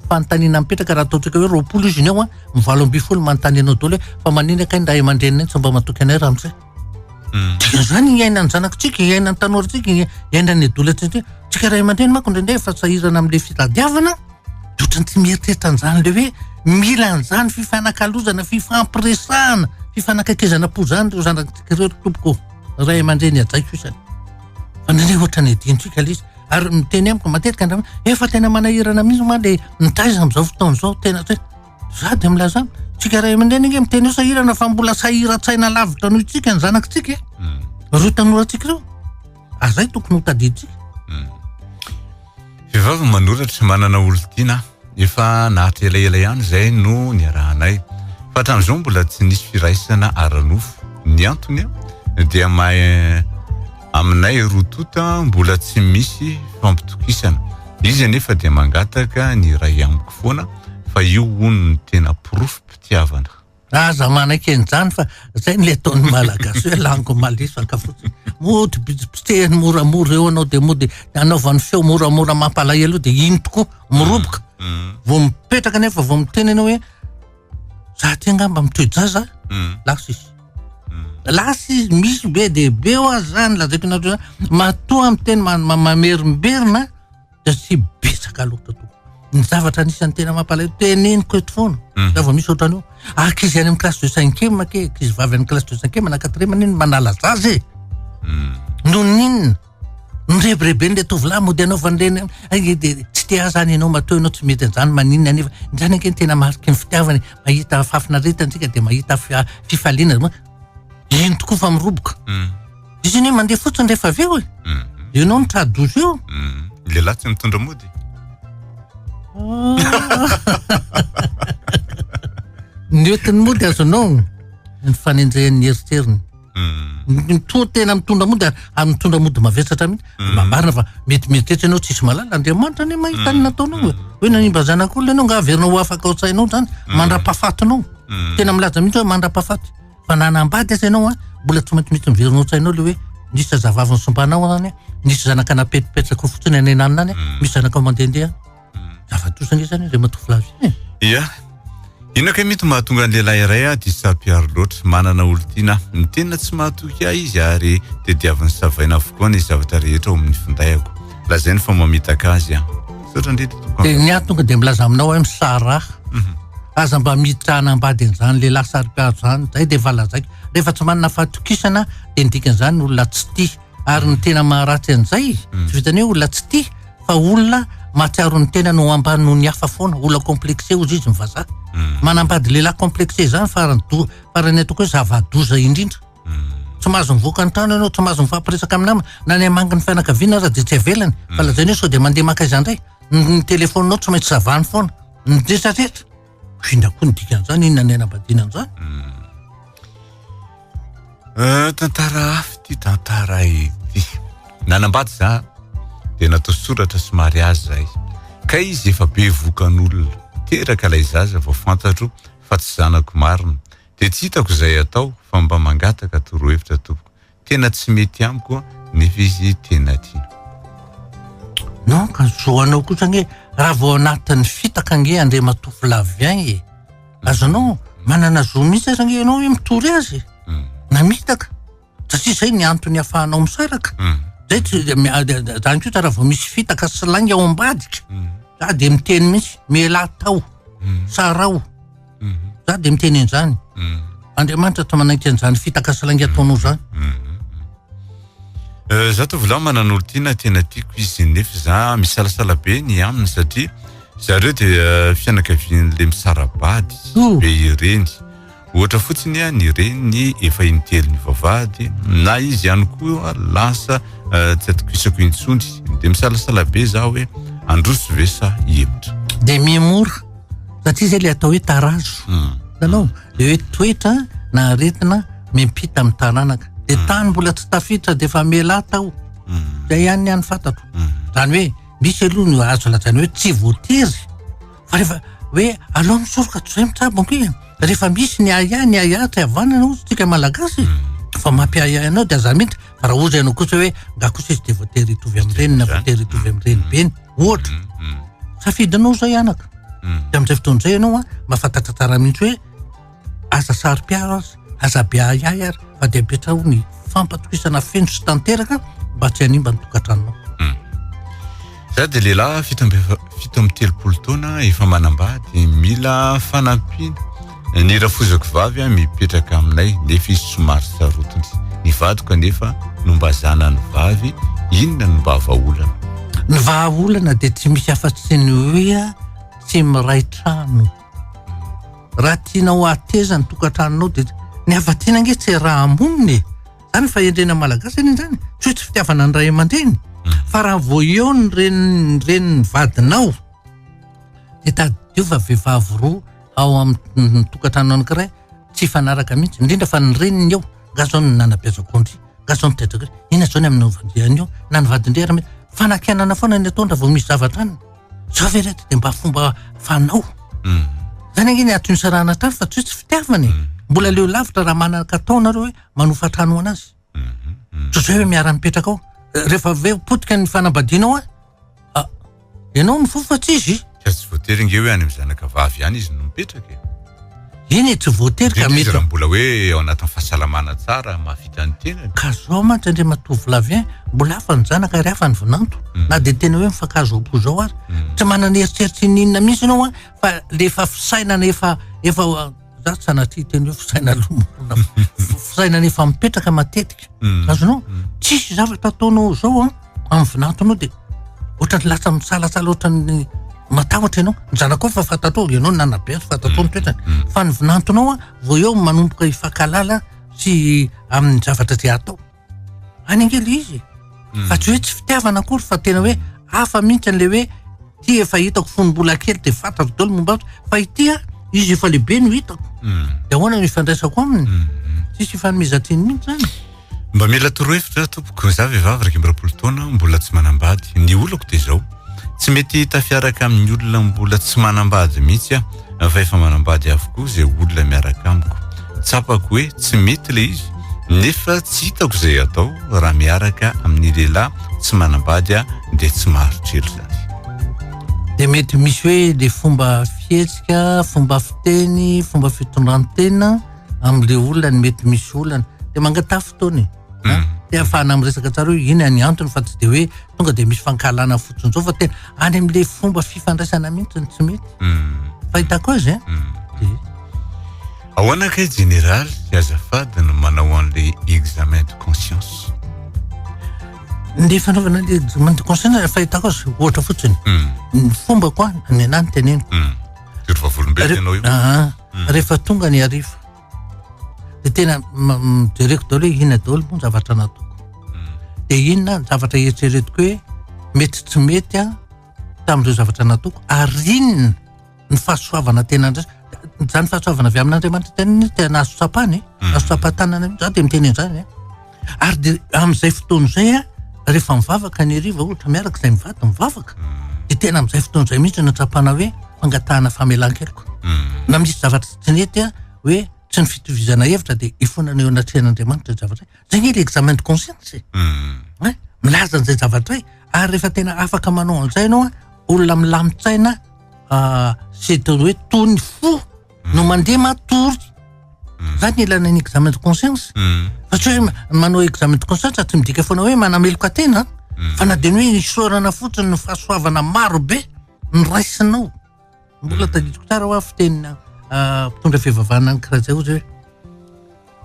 fanontaniana mipetraka raha ataontsika hoe roapolo izy ny ao an ny valo ambin'ny folo manontany anao daholo hoe fa manina kay ny ray aman-dreniny tsy mba matoky anay ramose hmm. dia zany iainan'ny zanakontsika iainan'ny tanorintsika iainan'ny adolantsika tsika ray aman-dreny manko indraindray efa sahirana amin'ilay fitadiavana dia ohatrany tsy mieritreritra an'izany le hoe mila an'izany fifanakalozana fifampiresahana fifanakaikezana po zany reo zanatsika reo tompoko ray aman-dreny ajaiko isany Fa nane ohatran'ny adinontsika le izy. Ary miteny amiko matetika ny ramana, efa tena manahirana mihitsy ma le mitaiza amin'izao fotoana izao, tena hoe za dia milaza aminy, tsika ray aman-dreny ange miteny hoe sahirana fa mbola sahiran-tsaina lavitra noho itsika ny zanakitsika e. Ireo tanorantsika ireo, ary zay tokony ho tadidintsika. Vehivavy manoratra, manana olon-tiana aho. Efa naharitra elaela ihany izay no niarahanay. Fa hatramin'izao mbola tsy nisy firaisana ara-nofo. Ny antony dia mahay aminay roa tonta mbola tsy misy fampitokisana. Izy anefa dia mangataka ny iray amiko foana fa io hono no tena porofom-pitiavana. Aza manaiky an'izany fa zay no ataon'ny Malagasy hoe lango malisaka fotsiny. Mody potsehiny moramora eo anao dia mody anaovany feo moramora mampalahelo io dia iny tokoa miroboka. Mm, mm. Vao mipetraka nefa vao miteny ianao hoe za ty angamba mitoe-jaza mm. lasa izy. Lasa izy misy be dia be ho azy zany lazaiko anareo zany. Matoa miteny mamerimberina satria betsaka loatra tokoa. Ny zavatra anisan'ny tena mampalahelo teneniko eto foana, mhm. raha vao misy ohatrany hoe ankizy any amin'ny classe de cinquième ke, ankizy vavy any classe de cinquième na quatrième anie no manala zaza e. Mhm. Noninona? Nirebirebeny ilay tovolahy mody anaovan'ireny tsy te aza any ianao matoa ianao tsy mety an'izany maninona anefa. Izany ange no tena mariky ny fitiavana e. Mahita fahafinaretantsika dia mahita fifaliana. Eny tokoa fa miroboka. Izy anie mandeha fotsiny rehefa avy eo e. Ianao no tra douze eo. Ny lehilahy tsy mitondra mody. Ny oetiny mody azonao ny fanenjehan'ny eritreriny. Mitoa tena mitondra mody ary mitondra mody mavesatra mihitsy. Mba marina fa mety mieritreritra ianao tsisy malala Andriamanitra anie mahita ny nataonao. Hoe nanimba zanak'olona ianao nga averina ho afaka ao an-tsainao zany mandra-pahafatinao. mm. tena milaza mihitsy hoe mandra-pahafaty fa na nambady aza ianao a mbola tsy maintsy misy miverina an-tsainao le hoe nisy zazavavy nisombanao any nisy zanaka napetripetraka fotsiny any ananina any mm. misy zanaka mandehandeha mm. zava-dosa nge zany reh matovolavo eh. ia inona kay mety mahatonga ny lehilahy iray a diso tsapiaro loatra manana olon-tiana ny tena tsy mahatoky ahy izy ary tediavin'ny savaina avokoa ny zavatra rehetra ao amin'ny findahako lazainy fa mamitaka azy a Misaotra indrindra tompoko. Dia ny ahy tonga dia milaza aminao aho misaraha. Mhm. Aza mba miditra hanambady an'izany lehilahy sarik'ady izany. Izay dia efa lazaiko. Rehefa tsy manana fahatokisana dia ny dikan'izany olona tsy tia. Ary ny tena maharatsy an'izay, mhm. tsy vitan'ny hoe olona tsy tia fa olona mahatsiaro ny tenany ho ambany noho ny hafa foana, olona complexé hozy izy ny vazaha. Mhm. Manambady lehilahy complexé izany farany do- farany ataoko hoe zava-doza indrindra. Tsy mahazo mivoaka ny trano ianao, tsy mahazo mifampiresaka amin'ny namana, na ny hamangy ny fianakaviana aza dia tsy avelany. Fa lazainao sao dia mandeha maka aiza indray? Ny telefaoninao tsy maintsy savahany foana. Midresadresy. Inona koa ny dikan'izany? Inona ny hanambadiana an'izany? Eh, tantara hafa ity tantara ity. Nanambady za dia natao soratra sy mariazy zay. Ka izy efa be vokan'olona. Teraka ilay zaza vao fantatro fa tsy zanako marina. Dia tsy hitako izay atao fa mba mangataka torohevitra tompoko, tena tsy mety amiko nefa izy tena tiana. Non ka zo anao kosa anie raha vao anatin'ny fitaka ange Andriamatoa Flavien e! Azonao manana zo mihitsy aza ange ianao hoe mitory azy na mitaka satria zay ny antony afahanao misaraka zay tsy zany koa raha vao misy fitaka sy lainga ao ambadika za de miteny mihitsy mialà tao sarao za de miteny an'izany andriamanitra tsy manaiky an'izany fitaka sy lainga ataonao zany euh, za tovolahy manan'olo tiana tena tiako izy nefa za misalasala be ny aminy satria zareo de euh, fianakavian'le misarabady be ireny Ohatra fotsiny ny reniny efa in-telo nivavahady, na izy ihany koa lasa tsy atokisako intsony. Dia misalasala be za hoe handroso ve sa hihemotra. Dia mihemotra satria zay le atao hoe tarazo. Hitanao? Le hoe toetra na aretina miampita amin'ny taranaka. Dia tany mbola tsy tafiditra dia efa mialà tao. Zay ihany ny an'ny fantatro. Zany hoe misy aloha no azo lazaina hoe tsy voatery. Fa rehefa hoe alao misoroka toy izay mitsabo ampy e! Rehefa misy ny ahiahy, ny ahiahy tsy havanana hozy tsika malagasy e! Fa mampiahiahy anao dia za mihitsy fa raha hozy ianao kosa hoe nga kosa izy dia voatery hitovy amin'ny reniny na voatery hitovy amin'ny renibeny ohatra. Safidinao izay anaka. Dia amin'izay fotoana izay ianao an, mahafantatra tsara mihitsy hoe. Aza saro-piaro aza, aza be ahiahy ary fa dia apetraho ny fampatokisana feno sy tanteraka mba tsy hanimba ny tokantranonao. Hmm. Za dia lehilahy fito amby fito amby telopolo taona efa manambady mila fanampiana ny rafozako vavy a mipetraka aminay nefa izy somary sarotiny ny vadiko anefa no mba zanany vavy inona no mba vahaolana ny vahaolana dia tsy misy afa-tsy ny hoe a tsy miray trano Raha tianao hahateza ny tokantranonao dia ny havadiana ange tsy raha monina e! Zany fahendrena malagasy anie zany, tsy hoe tsy fitiavana ny ray aman-dreny, fa raha vao eo ny renin'ny renin'ny vadinao dia tadidio fa vehivavy roa ao amin'ny tokantrano anankiray tsy hifanaraka mihitsy, indrindra fa ny reniny eo nga zao no nanabeazako andry, nga zao no tedrako andry, inona zao ny amin'ny vadiny eo na ny vadiny re ary mety, fanakianana foana ny ataony raha vao misy zavatra any. Zao ve reto de mba fomba fanao. Zany ange ny aton'ny sarahana tafo fa tsy hoe tsy fitiavana e. Mbola leo lavitra raha manakatao nareo hoe manofa trano ho anazy. Ohatr'izay hoe miara mipetraka ao. Rehefa avy eo potika ny fanambadianao an, ah, ianao mifofa tsy izy. Ka tsy voatery ange hoe any amin'ny zanakavavy ihany izy no mipetraka e. Eny e, tsy voatery ka mety. Indrindra izy raha mbola hoe ao anatin'ny fahasalamana tsara, mahavita ny tenany. Ka zao mantsy Andriamatoa Vlavien, mbola hafa ny zanaka ary hafa ny vinanto. Na dia tena hoe mifankahazo ao am-po zao ary. Tsy manana eritreritra ininona mihitsy ianao an, fa le efa fisainana efa, efa, za tsy sanatria hiteny hoe fisainana lomana, fisainana efa mipetraka matetika. azonao tsisy zavatra ataonao zao an amin'ny vinatonao dia ohatrany latsa misalatsala ohatrany matahotra ianao ny zanakao fa fantatrao ianao nanabe azy fantatrao ny toetrany fa ny vinantonao an vao eo manomboka hifankalala sy amin'ny zavatra izay atao any angely izy mm. fa tsy hoe tsy fitiavana akory fa tena hoe hafa mihitsy an'le hoe ty efa hitako fony mbola kely de fantako dolo momba fa ity a izy efa lehibe no hitako mm. de ahoana no ifandraisako aminy mm, tsisy ifanomezan-tsiny mihitsy zany mba mila torohevitra tompoko za vehivavy raika amby roapolo taona mbola tsy manambady ny olako de zao Tsy mety tafiaraka amin'ny olona mbola tsy manambady mihitsy aho fa efa manambady avokoa izay olona miaraka amiko. Tsapako hoe tsy mety ilay izy nefa tsy hitako izay atao raha miaraka amin'ny lehilahy tsy manambady aho dia tsy maharitry ela izany. Dia mety misy hoe ilay fomba fihetsika, fomba fiteny, fomba fitondran-tena amin'ilay olona no mety misy olana. Dia mangatafy fotoana e. Hmm. te afahana amin'ny resaka tsara hoe iny any antony fa tsy de hoe tonga de misy fankahalana fotsiny zao fa tena any am'le fomba fifandraisana mihitsy ny tsy mety hmm. fahitako azy a hmm. de ahoana kay général sy azafady no manao an'le examen de conscience le fanaovana le examen de conscience fahitako azy ohatra fotsiny ny fomba koa ny anany teneniko ah, ah. rehefa tonga ny arivo de tena mijereko daholo hoe inona daholo moa ny zavatra nataoko hmm. de inona ny zavatra eritreretiko hoe mety tsy mety a tamin'ireo zavatra nataoko ary inona ny fahasoavana tena ndrasa zany fahasoavana avy amin'andriamanitra tena tena azo tsapana e hmm. azo tsapatanana za de miteny an'izany e Ary dia amin'izay fotoana izay a, rehefa mivavaka ny hariva ohatra miaraka izay mivady mivavaka, mm. dia tena amin'izay fotoana izay mihitsy natsapana hoe fangatahana famelan-keloka. Mm. Na misy zavatra tsy nety a, hoe tsy ny fitovizana hevitra dia ifonana eo anatrehan'Andriamanitra izay zavatra izay. Izay ny ilay examen de conscience. Mm. Eh? Milaza an'izay zavatra izay. Ary rehefa tena afaka manao an'izay ianao a, olona milamin-tsaina ah, sy hoe tony fo no mandeha matory zany ny ilana ny examen de conscience fa tsy hoe manao examen de conscience fa tsy midika foana hoe manameloka tena fa na dia ny hoe isaorana fotsiny ny fahasoavana maro be ny raisinao mbola tadidiko tsara hoa fitenina mpitondra fivavahana any karajaozy hoe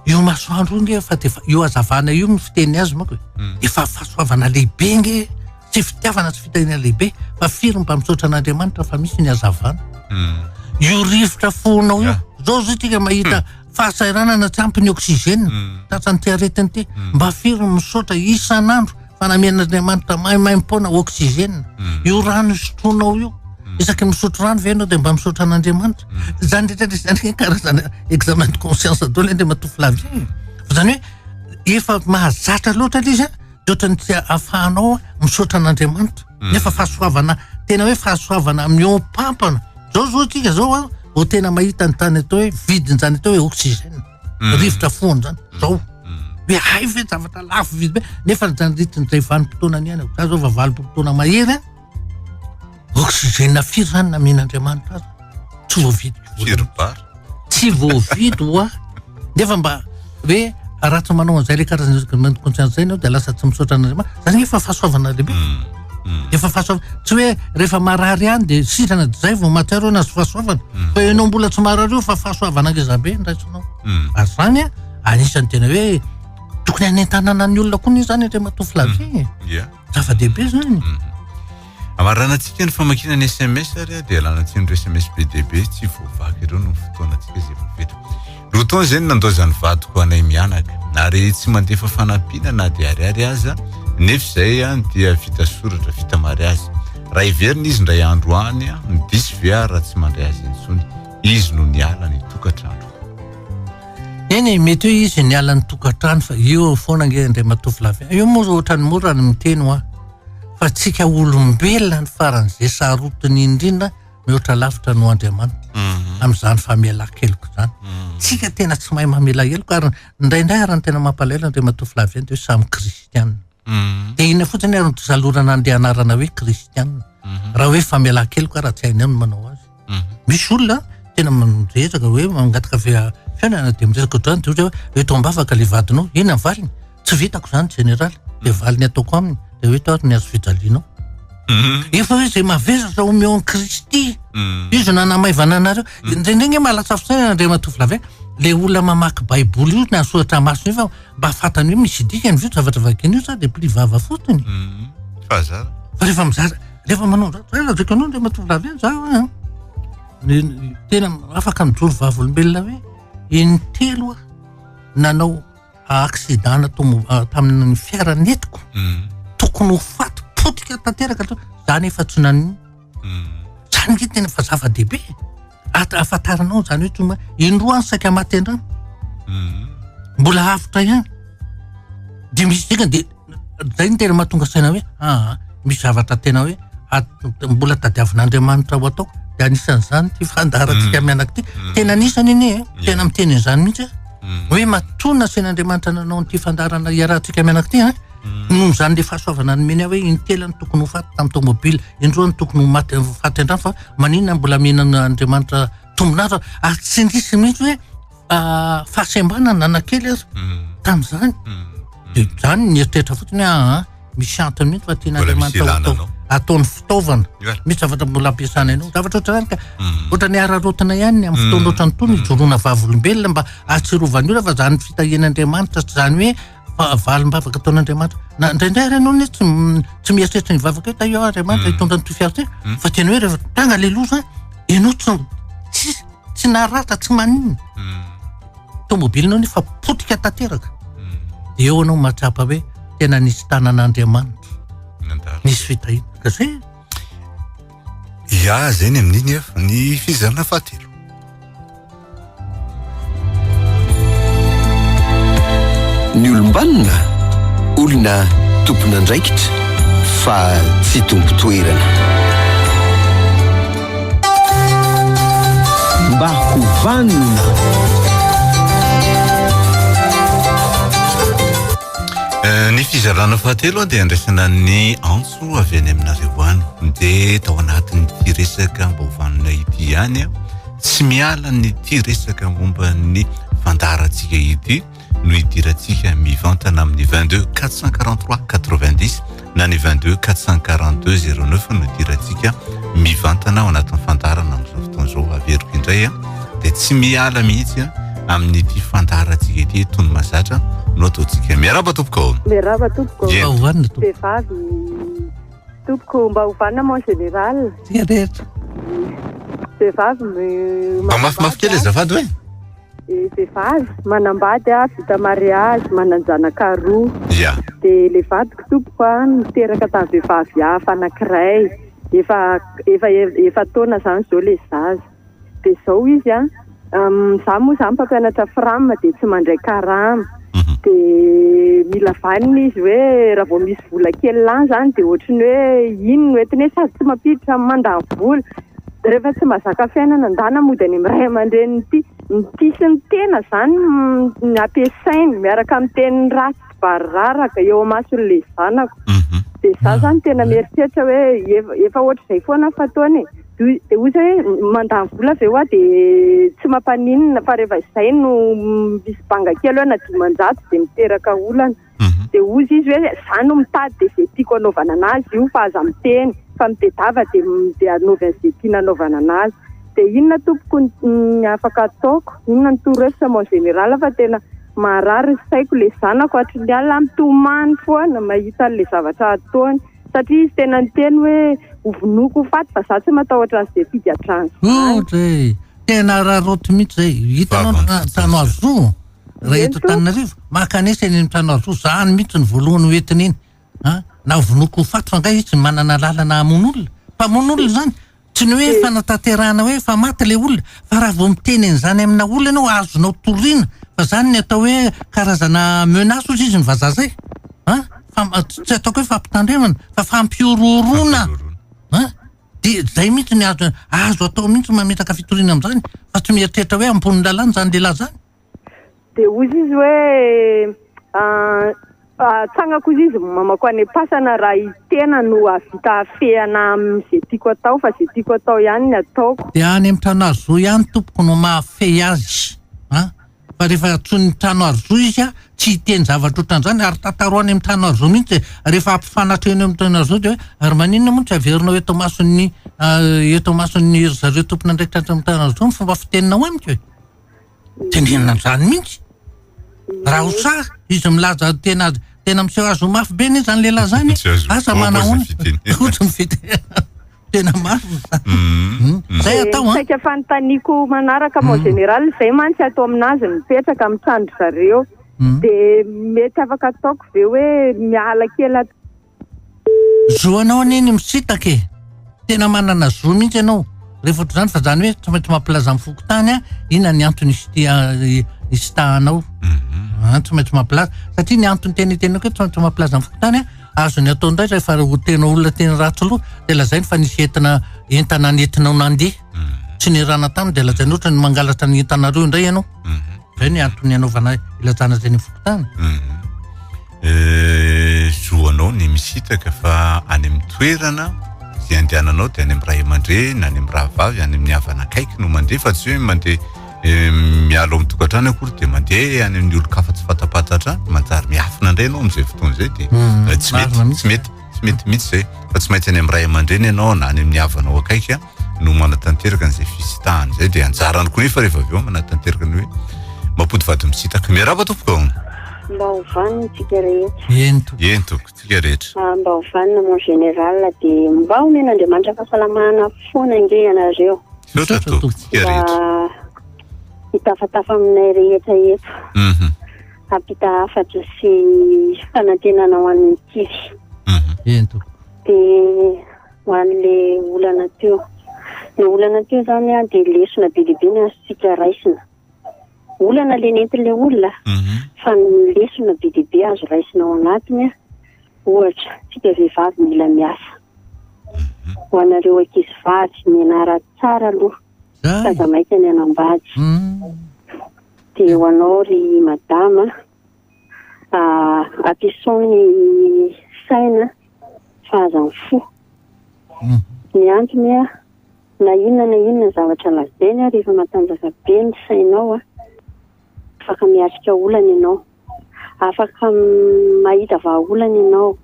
Io masoandro io nge efa dia io hazavana io no fiteny azy manko e. Hmm. Efa fahasoavana lehibe nge tsy fitiavana tsy fitahiana lehibe fa firy mba misaotra an'Andriamanitra fa misy ny hazavana. Hmm. Io rivotra fonao io. Zao zao tika mahita hmm. fahasahiranana tsy ampy ny oxygène. Tratran'ity aretina ity. Mba firy misaotra isan'andro fanamian'Andriamanitra maimaim-poana oxygène hmm. io rano sotroinao io hmm. isaky misotro rano ve ianao dia mba misaotra an'Andriamanitra hmm. zany rehetra zany hoe karazana examen de conscience dolo ande matoa flavie fa zany hoe efa mahazatra loatra le izy a de ohatrany tsy ahafahanao misaotra an'Andriamanitra nefa fahasoavana tena hoe fahasoavana miompampana zao zao tsika zao a ho tena mahita ny tany atao hoe vidiny zany atao hoe oxygène mm. rivotra foana zany mm. zao be hay ve zavatra lafo vidy be nefa nitandritin'izay vanim-potoana ny aina za zao va valim-potoana mahery a oxygène firy zany namen'andriamanitra azy tsy voavidy firibary tsy voavidy hoa nefa mba hoe raha tsy manao an'izay le karazana conscience zay nao de lasa tsy misaotra an'andriamanitra zany efa fahasoavana lehibe mm. Mm. efa fahasoava tsy hoe rehefa marary any dia sitrana zay vao matiaro na sy fahasoavana mm. fa ianao mbola tsy marary io fa fahasoavana ngezabe ny raisinao mm. ary zany a anisan'ny tena hoe tokony anentanana ny olona koa ny zany atra matoa flavie zava-dehibe zany amaranantsika ny famakina ny sms ary dia alanatsika ny sms be dehibe tsy voavaky ireo no fotoanantsika zay voaveta Roa taona izay no nandaozan'ny vadiko anay mianaka, ary tsy mandefa fanampiana na dia ariary aza, nefa izay dia vita soratra, vita mariazy. Raha heverina izy indray andro any, diso ve aho raha tsy mandray azy intsony? Izy no niala ny tokantrano. Eny e, mety hoe izy niala ny tokantrano fa io eo foana ange indray matovolavy an. Io moa ohatran'ny mora ny miteny hoa fa antsika olombelona ny faran'izay sarotiny indrindra, mihoatra lavitra noho Andriamanitra mhm. amin'izany famelan-keloka izany. Mhm. Tsika tena tsy mahay mamela heloka ary indraindray ary ny tena mampalahelo dia matoa filavy dia hoe samy kristiana. Mhm. Dia inona fotsiny ary nysalorana an'ilay anarana hoe kristiana. Raha hoe famelan-keloka raha tsy hainao ny manao azy. Misy olona tena miresaka hoe mangataka fiainana dia miresaka ohatrany dia hoe eto am-bavaka ilay vadinao, inona ny valiny? tsy vitako zany général de mm. valiny ataoko aminy de hoe to ary ny azo fijalianao mm. efa hoe zay mavesatra omeo an kristy mm. izy nanamaivana anareo ndraindraigny mahalatsafosaina andriamatovilavy le olona mamaky baiboly io na soratra masina io fa mba fatany hoe misy dikany vio zavatra vakiny io sa de pli vava fotony fa rehefa mizara rehefa manao zdradradraka anao andriamatovilavy an za tena afaka mijoro vavolombelona hoe intelo a nanao accident natombo- tamin'ny fiara nentiko tokony ho faty potika tanteraka hatr- za nefa tsy nanino zany nge tena fa zava-dehibe at- ahafantaranao zany hoe tsma indroa any saika maty an-drano mbola avotra ihany de misy dikany de Zay no tena mahatonga saina hoe aa misy zavatra tena hoe mbola tadiavin'Andriamanitra ho ataoko de anisan'izany ity fandaharantsika mm. mianaka ity mm. tena anisany anie eh. mm. tena miteny an'izany mihitsy eh. hoe matonina sain'Andriamanitra nanao an'ity fandaharana iarahantsika mianaka ity eh. noho zany le fahasoavana nomeny hoe intela ny tokony ho faty tamin'ny tomobily indroa ny tokony ho maty faty an-drano fa maninona mbola mihinana Andriamanitra tombon'andro ary tsy nisy mihitsy hoe ah, fahasembanana nanakely aza tamin'izany dia zany nieritreritra fotsiny hoe aa ah, misy antony mihitsy fa tiana andriamanitra ataony fitaovana misy zavatra mbola ampiasana anao zavatra ohatrany ka mm. ohatrany ararotina ihany ny amin'ny fotoana mm. ohatrany tony mm. ijoroana vavolombelona mba ahatsirovany olona fa zany fitahian'andriamanitra tsy zany hoe Fahavalombavaka ataon'Andriamanitra. Na indraindray ary ianao anie tsy m- tsy mieritreritra ny vavaka hoe ta io Andriamanitra Mm. hitondra an'ity fiara ity. Mm. Fa tena hoe rehefa tanga ilay loza, ianao tsy tsy tsy naratra, tsy maninona. Mm. Tomobilinao nefa potika tanteraka. Mm. Dia eo ianao mahatsapa hoe tena nisy tanan'Andriamanitra, Nandalo. nisy fitahiana. Ka zay Ya zay ny amin'iny ef, ny fizarana fahatelo. Ny olombanona, olona tompon'andraikitra fa tsy tompon-toerana. Mba ho vanona. Ny fizarana fahatelo dia andraisana ny antso. Herim-po avy any aminareo any. Ndeha tao anatin'ity resaka mba ho vanona ity ihany aho. Tsy miala an'ity resaka momba ny fandaharantsika ity no hidirantsika mivantana amin'ny 22 443 90 na ny 22 442 09 no hidirantsika mivantana ao anatin'ny fandaharana amin'izao fotoana izao. Averiko indray. dia tsy miala mihitsy amin'ity fandaharantsika ity tony mazatra no ataontsika miaraba tompoko miaraba tompoko hoanina tompoko vehivavy tompoko mba hovanina mon général dia rehetra vehivavy mba mafimafy kely azafady hoe eh, vehivavy manambady a vita mariage manan-janaka roa ya dia le vadiko tompoko a niteraka tamin'ny vehivavy hafa anankiray efa efa efa taona zany zao le zaza dia izao izy an, izaho moa izany mpampianatra fram dia tsy mandray karama, mhm. dia mila vanina izy hoe raha vao misy vola kely lany izany dia ohatry ny hoe iny no entiny hoe sady tsy mampiditra amin'ny mandany vola, rehefa tsy mazaka fiainana ndana mody any amin'ny ray aman-dreniny ity, ny tena izany no ampiasainy miaraka amin'ny teniny ratsy. vary raraka eo amasony le zanako mhm. de za ah. zany tena mieritreritra hoe efa ohatr'izay foana ny fataony de ozy hoe mandany vola avy eo a de tsy mampaninona fa rehefa izay no misy banga kely hoe na dimanjato de miteraka olana mhm. de ozy izy hoe za no mitady de zay tiako anaovana anazy io fa aza miteny fa mitedava de de anaovy an'izay tiana anaovana anazy de inona tompoko afaka ataoko inona ny toro hevitra mon général fa tena marary ny saiko, ilay zanako hatry ny alina mitomany foana mahita an'ilay zavatra ataony satria izy tena niteny hoe hovonoiko ho faty fa za tsy matahotra an'izay figadrany izany. Tena araraoty mihitsy izay, hitanao ny trano azo raha eto Antananarivo, makanesa eny amin'ny trano azo, izany mihitsy ny voalohany hoentina iny, an! navonoiko ho faty fa nga izy manana lalana hamono olona? Mpamono olona izany? Tsy ny hoe fanatanterahana hoe efa maty ilay olona fa raha vao miteny an'izany amina olona ianao azonao toriana fa izany ny atao hoe karazana menace ozy izy ny vazaha izay an! tsy ataoko hoe fampitandremana fa fampihorohoroana an! dia izay mihintsy ny azo atao mihintsy mametraka fitoriana amin'izany fa tsy mieritreritra hoe hampono ny lalàna izany lehilahy izany. Dia hoy izy hoe, Atsangako hoy izy, mamako any am-pasana raha i tena no hahavita hafehana amin'izay tiako atao, fa izay tiako atao ihany no ataoko. Dia any amin'ny trano Arjo ihany tompoko no mahafehy azy an! Fa rehefa antsoin'ny trano Arjo izy, tsy hiteny zavatra ohatran'izany, ary tantaro any amin'ny trano Arjo mihitsy e! Rehefa hampifanatro eny amin'ny trano Arjo dia hoe, ary maninona moa no tsy averinao eto imason'ny, eto imason'ny ry zareo tompon'andraikitra any amin'ny trano Arjo ny fomba fiteninao amiko e? tenenina an'izany mihitsy. Raha ho sahy, izy milaza tena tena miseho azy ho mafy be anie zany lehilahy zany. Asa manahoana? Ohatry ny fitenenana. Tena mafy ny sahy. Mhm. Hmm. Hmm. Zay atao an. Dia saika fanontaniako manaraka mon hmm. général, zay mantsy ato aminazy mipetraka amin'ny trano-dry zareo. Dia mety afaka ataoko ve hoe miala kely ato Zo anao anie ny misitaka e! Tena manana zo mihitsy ianao rehefa ohatr'izany fa izany hoe tsy maintsy mampilaza amin'ny fokontany an, inona ny antony isitahanao an, tsy maintsy mampilaza satria ny antony tena itenenako hoe tsy maintsy mampilaza amin'ny fokontany an, azony atao indray rehefa tena olona tena ratsy loha dia lazainy fa nisy entina entana nentinao nandeha tsy niarahana taminy dia lazainy ohatra ny mangalatra ny entanareo indray ianao, izay ny antony anaovana ilazana izay any amin'ny fokontany. Zo anao ny misitraka fa any amin'ny toerana izay andehananao dia any amin'ny ray aman-dreny, any amin'ny rahavavy, any amin'ny havana akaiky no mandeha fa tsy hoe mandeha eh, miala ao amin'ny tokantrano akory dia mandeha any amin'ny olon-kafa tsy fatapantatra any, manjary miafina indray ianao amin'izay fotoana izay dia hmm, eh, tsy mety, tsy mety, tsy mety mihitsy izay fa tsy maintsy any amin'ny ray aman-dreny ianao na any amin'ny havanao akaiky. no manatanteraka an'izay fisitahany zay dia anjarany koa nefa rehefa avy eo manatanteraka ny hoe mampody vady misitaka miaraba tompoko mba ho vaniny tsika rehetra ento ento tsika rehetra ah, mba ho vanina mon général dia mba omen'andriamanitra fahasalamana foana nge ianareo misaotra tompoko tsika rehetra hitafatafa aminay rehetra eto mhm. hampita hafatra sy fanantenana ho an'ny kivy mhm. ento dia Ho an'ilay olana teo. Ilay olana teo izany dia lesona be dia be ny azontsika raisina. Olana ilay nentin'ilay olona, mhm. fa ny lesona be dia be azo raisina ao anatiny, ohatra, tsika vehivavy mila miasa. Mhm. Ho anareo ankizy vavy, mianara tsara aloha, fa zamaika ny anambady. Mhm. Dia ho anao ry madama, ah, atison ny saina fa aza mifoha hmm. ny antony a na inona na inona zavatra lazainy a rehefa matanjaka be ny sainao a afaka miatrika olana ianao afaka mahita vahaolana ianao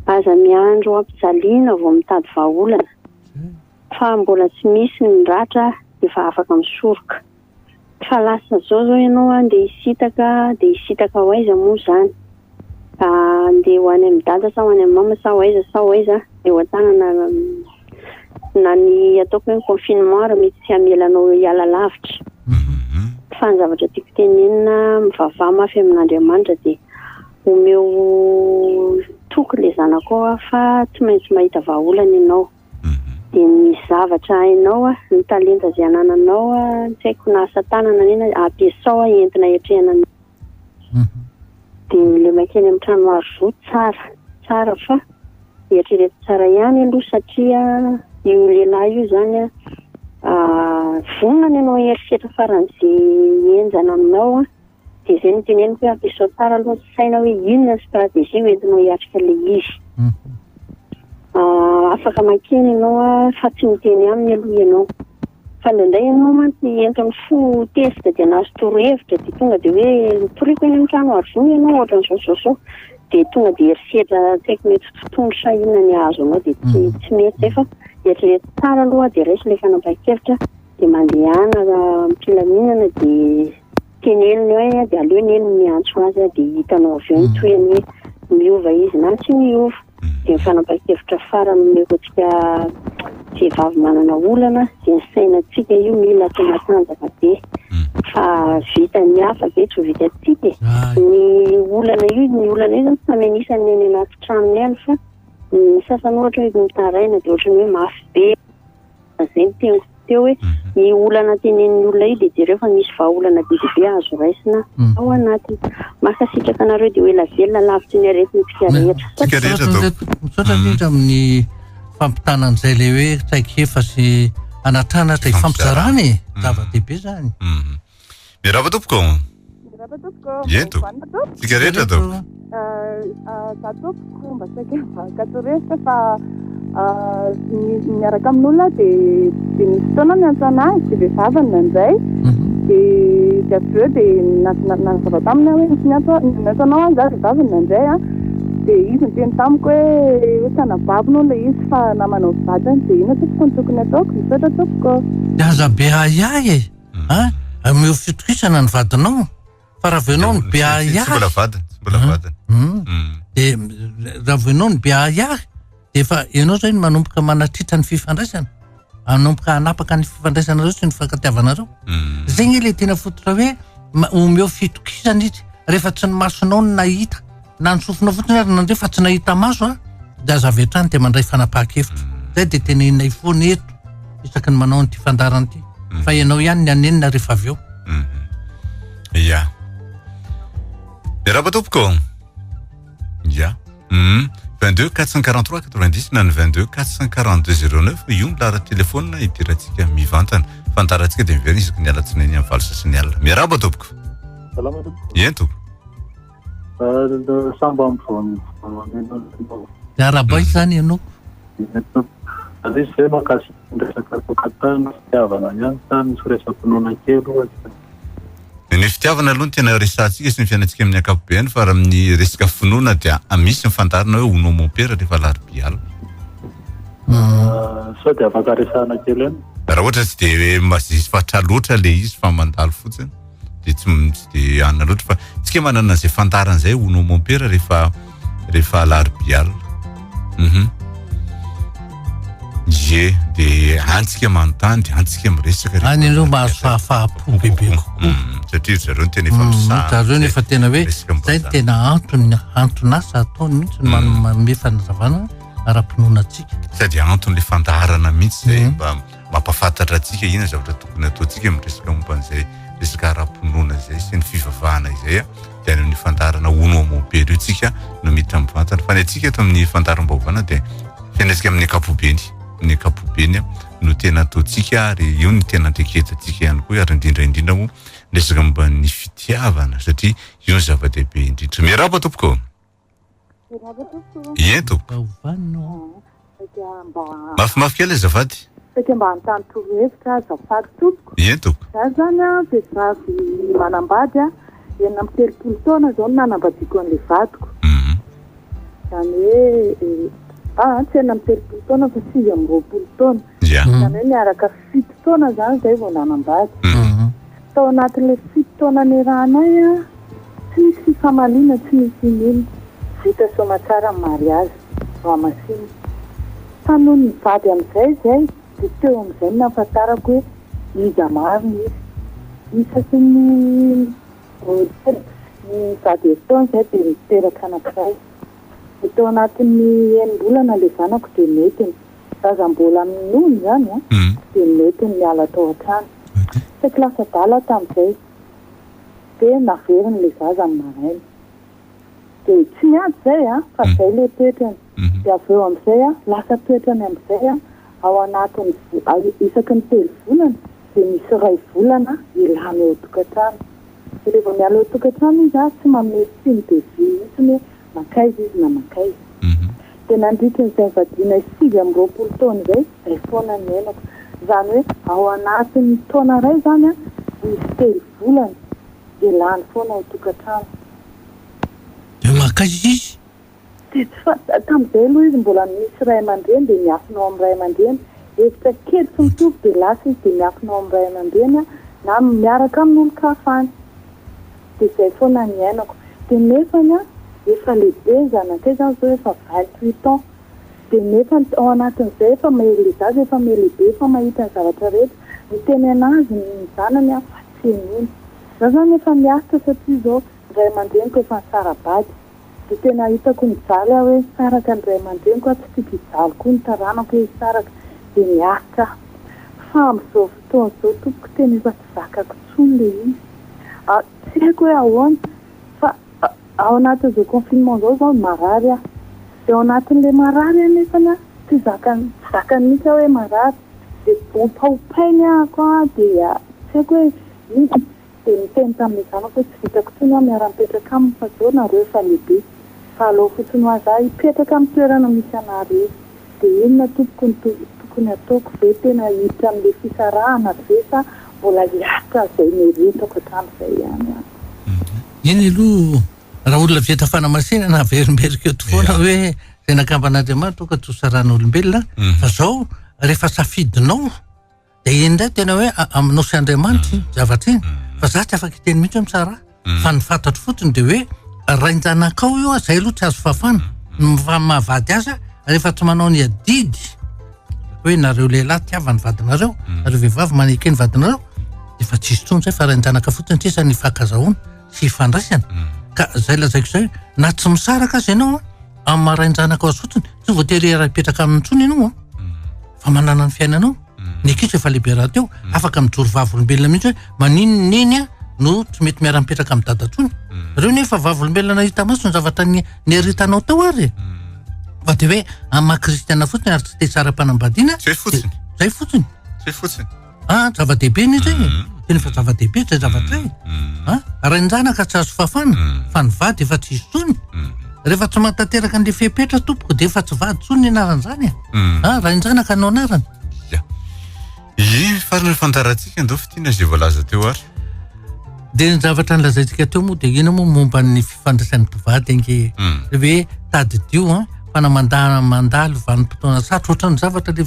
aza miandro ampijaliana vao mitady vahaolana fa mbola tsy misy ny ratra efa afaka misoroka Fa lasa zao zao ianao andeha hisitaka dia hisitaka ho aiza moa izany? Andeha ho any amin'i dada sa ho any amin'i mama sa ho aiza sa ho aiza? Eo an-tanana na ny ataoko hoe ny confinement ary mety tsy hamela anao hiala lavitra. Fa ny zavatra tiako tenenina, mivavaha mafy amin'Andriamanitra dia omeo toky ilay zanakao aho fa tsy maintsy mahita vahaolana ianao. dia ny zavatra hainao a, ny talenta izay anananao a, tsy haiko na asa tanana na inona, ampiasao a entina hiatrehana ny dia le mankeny amin'ny trano art zo tsara tsara fa eritrereto tsara ihany aloha satria io lehilahy io zany a vonona ny hanao herisetra faran'izay henjana aminao a Dia izay no teneniko hoe ampiasao tsara aloha ny saina hoe inona ny stratégie ho entinao hiatrika ilay izy. Afaka makeny ianao fa tsy miteny aminy aloha ianao. Fa indraindray ianao mantsy entin'ny fo tezitra dia nahazo torohevitra dia tonga dia hoe mitoriako eny amin'ny trano aro voa ianao ohatran'izao izao izao. Dia tonga dia herisetra tsy haiko mety tsy tony sa inona ny hahazo anao dia tsy mety izay fa eritrereto tsara aloha dia raiso ilay fanapahan-kevitra. dia mandehana am-pilaminana dia teneniny hoe dia aleo anie no miantso azy aho dia hitanao avy eo ny tohiny hoe miova izy na tsy miova. Dia ny fanapahan-kevitra farany amin'ireo tsika vehivavy manana olana dia ny sainantsika io mila atao matanjaka be fa vitan'ny hafa ve tsy ho vitantsika e. Ny olana io, ny olana io zany samy anisany ny any anaty tranony any fa ny sasany ohatra hoe mitaraina dia ohatran'ny hoe mafy be. Izay ny teniko teo hoe ny olana tenenin'ny olona io dia jereo fa misy vahaolana be dia be azo raisina ao anatiny. Mankasitraka anareo dia ho ela velona lavitry ny aretintsika rehetra. Tsika rehetra Misaotra izao. indray- Misaotra indrindra amin'ny fampitana an'izay le hoe traikefa sy anatanatra ifampizarana e, zava-dehibe zany. Mirava tompoko. Mirava tompoko. Ento. Vanina tompoko. Tsika rehetra tompoko. Za tompoko mba saika katoresa fa miaraka amin'olona dia dia misy fotoana ny antsana azy dia vehivaviny nandray dia dia avy eo dia nanazava taminy aho hoe misy ny antsa ny antsanao aho za vehivaviny nandray a dia izy niteny tamiko hoe hoe tsy anabaviny hono ilay izy fa namanao vadiny dia inona tompoko ny tokony ataoko misaotra tompoko. Dia aza be ahiahy e. An! Ameo fitokisana ny vadinao fa raha vao ianao no be ahiahy. Tsy mbola vadiny, tsy mbola vadiny. Dia raha vao ianao no be ahiahy dia efa ianao izay no manomboka manatritra ny fifandraisana, manomboka hanapaka ny fifandraisanareo sy ny fifankatiavanareo. Izay anie ilay tena fototra hoe omeo fitokisana izy rehefa tsy ny masonao no nahita. Na ny sofina fotsiny ary nandre fa tsy nahita maso aho dia aza avy hatrany dia mandray fanapahan-kevitra. Izay dia teneninay foana eto isaky ny manao an'ity fandaharana ity fa ianao ihany ny hanenina rehefa avy eo. Ia. Miarahaba tompoko. Ia. Hum. 22 443 90 na ny 22 442 09 io ny lahara telefaonina idirantsika mivantana. Fandaharantsika dia miverina isaky ny alatsinainy amin'ny valo sasany alina. Miarahaba tompoko. Salama tompoko. Eny tompoko. Sambam Arabaiko zany ianao. Aziz ve makasika ny resaka tokantrano sy fitiavana ihany sa misy resa-pinoana kely ohatra? Ny fitiavana aloha no tena resahantsika sy ny fiainantsika amin'ny ankapobeany fa raha amin'ny resaka finoana dia misy ny fandaharana hoe Onoa mon père rehefa alarobia alina. Sao dia afaka resahana kely any? Raha ohatra tsy dia mazesy fatra loatra ilay izy fa mandalo fotsiny. dia tsy tsy dia anona loatra fa tsika manana izay fantarina izay ho nom mon père rehefa rehefa alarobia alina uhum ie dia antsika manontany dia antsika miresaka any aloha mahazo fahafahampo bebe kokoa mm, satria zareo tena efa mm, misahana zareo nefa tena hoe zay tena antony anton'asa ataony mihitsy mm. manome fanazavana ara-pinoana antsika sady anton'le fandaharana mihitsy zay mm. mba mampafantatra antsika inona zavatra tokony ataontsika amin'ny resaka momba an'izay resaka ara-pinoana izay sy ny fivavahana izay a dia any amin'ny fandarana ono amobely io tsika no miditra mivantana fa ny antsika eto amin'ny fandaram-baovana dia fiainantsika amin'ny ankapobeny ny ankapobeny a no tena ataontsika ary io ny tena anteketantsika ihany koa ary indrindra indrindra moa resaka momba ny fitiavana satria io ny zava-dehibe indrindra miarahaba tompoko Eto. Mafimafy kely azafady. Saika mba hanontany torohevitra azafady tompoko. Eto. Za zany an vehivavy manambady an, enina amby telopolo taona zao no nanambadiako an'le vadiko. Zany hoe, ah tsy enina amby telopolo taona fa sivy amby roapolo taona. Zany hoe niaraka Fito taona zany zay vao nanambady. Tao anatin'le fito taona niarahanay an, tsy nisy fifamaliana, tsy nisy inona. Vita soamatsara ny mariazy, voamasina. Fa nony nivady amin'izay izay dia teo amin'izay no nahafantarako hoe iza marina izy. Isaky ny roapolo sy zato herintaona izay dia niteraka anankiray. Dia tao anatin'ny enim-bolana le zanako dia nentiny. Raha mbola minono izany dia nety ny niala tao an-trano. Saiky lasa adala tamin'izay. Dia naveriny ilay zaza ny maraina. Dia tsy niady izay fa izay ilay toetrany. Dia avy eo amin'izay lasa toetrany amin'izay ao anatin'ny isaky ny telo volana dia misy iray volana ilany ao an-tokantrano. Dia rehefa miala ao an-tokantrano izy tsy manome signe de vie mihitsy hoe mankaiza izy na mankaiza. Dia nandritry ny fivadianay sivy amby roapolo taona izay, izay foana ny niainako. Izany hoe ao anatin'ny taona iray izany an, misy telo volana dia lany foana ao tokantrano. Dia mankaiza izy? Dia tsy fantatra. Tamin'izay aloha izy mbola misy ray aman-dreny dia miafina ao amin'ny ray aman-dreny. Hevitra kely tsy mitovy dia lasa izy dia miafina ao amin'ny ray aman-dreny an, na miaraka amin'olon-kafa any. dia izay foana niainako dia nefany an efa lehibe ny zanakay zany zao efa vingt huit ans dia nefany tao anatin'izay efa mahery le zaza efa me lehibe efa mahita ny zavatra rehetra miteny anazy ny zanany an fa tsy henoiny za zany efa miaritra satria zao ny ray aman-dreniko efa nisara-bady Dia tena hitako mijaly aho hoe hisaraka ny ray aman-dreniko aho, tsy tiako hijaly koa ny taranako hoe hisaraka, dia miaritra aho. Fa amin'izao fotoana izao tompoko tena efa tsy zakako intsony ilay izy. Tsy haiko hoe ahoana fa ao anatin'izao confinement izao izao no marary aho. Dia ao anatin'ilay marary anefa aho tsy zakany, tsy zakany mihitsy aho hoe marary. Dia ompaompainy aho koa dia tsy haiko hoe inona. Dia niteny tamin'ilay zanako hoe tsy vitako intsony aho miara-mipetraka aminy fa zao nareo efa lehibe fa alao fotsiny ho aza aho hipetraka amin'ny toerana misy anareo. Dia inona tompoko no tokony hataoko ve tena hiditra amin'ilay fisarahana ve sa mbola hiaritra izay meritako hatramin'izay ihany aho. Eny aloha raha olona vita fanamasinana averimberiko eto foana hoe zay nakamban'Andriamanitra aoka tsy ho saran'olombelona fa zao rehefa safidinao. Dia iny indray tena hoe aminao sy Andriamanitra iny zavatra iny. Fa za tsy afaka hiteny mihitsy hoe mitsara ahy. Fa ny fantatro fotsiny dia hoe rain-janakao io, zay aloha tsy azo fafana. Ny mahavady azy rehefa tsy manao ny adidy hoe nareo lehilahy tiava ny vadinareo, nareo vehivavy maneke ny vadinareo dia efa tsisy intsony zay fa rain-janaka fotsiny sisa ny hifankazahoana sy hifandraisana. Ka zay lazaiko zay na tsy misaraka aza ianao an. amin'ny maha rain-janaka azy fotsiny tsy voatery iaraha hipetraka aminy intsony ianao an mm. fa manana ny fiainanao mm. ny ankizy efa lehibe rahateo mm. afaka mijoro vavolombelona mihitsy hoe manino neny a no tsy mety miara mipetraka amin'ny dada tsony reo nefa vavolombelona nahita maso ny zavatra ny neritanao tao ary fa de hoe amin'ny maha kristiana fotsiny ary tsy te tsara-panambadiana zay fotsiny zay fotsiny zay fotsiny Ah, zava-dehibe ny izay e. Mm. Tena efa zava-dehibe izay zavatra izay. Mm. Mm. Ah, rain-janaka tsy azo fafana, fa ny vady efa tsy izy tsony. Rehefa tsy mahatanteraka an'ilay fepetra tompoko dia efa tsy vady tsony ny anaran'izany e. Ah, rain-janaka no anarany. Iny farany fantarantsika ndao fitina izay voalaza teo ary. Dia ny zavatra nolazaintsika teo moa dia ino moa momba ny fifandraisan'ny mpivady ange e. Hmm. Dia hoe tadidio an, fa na mandà mandalo vanim-potoana sarotra ohatran'ny zavatra le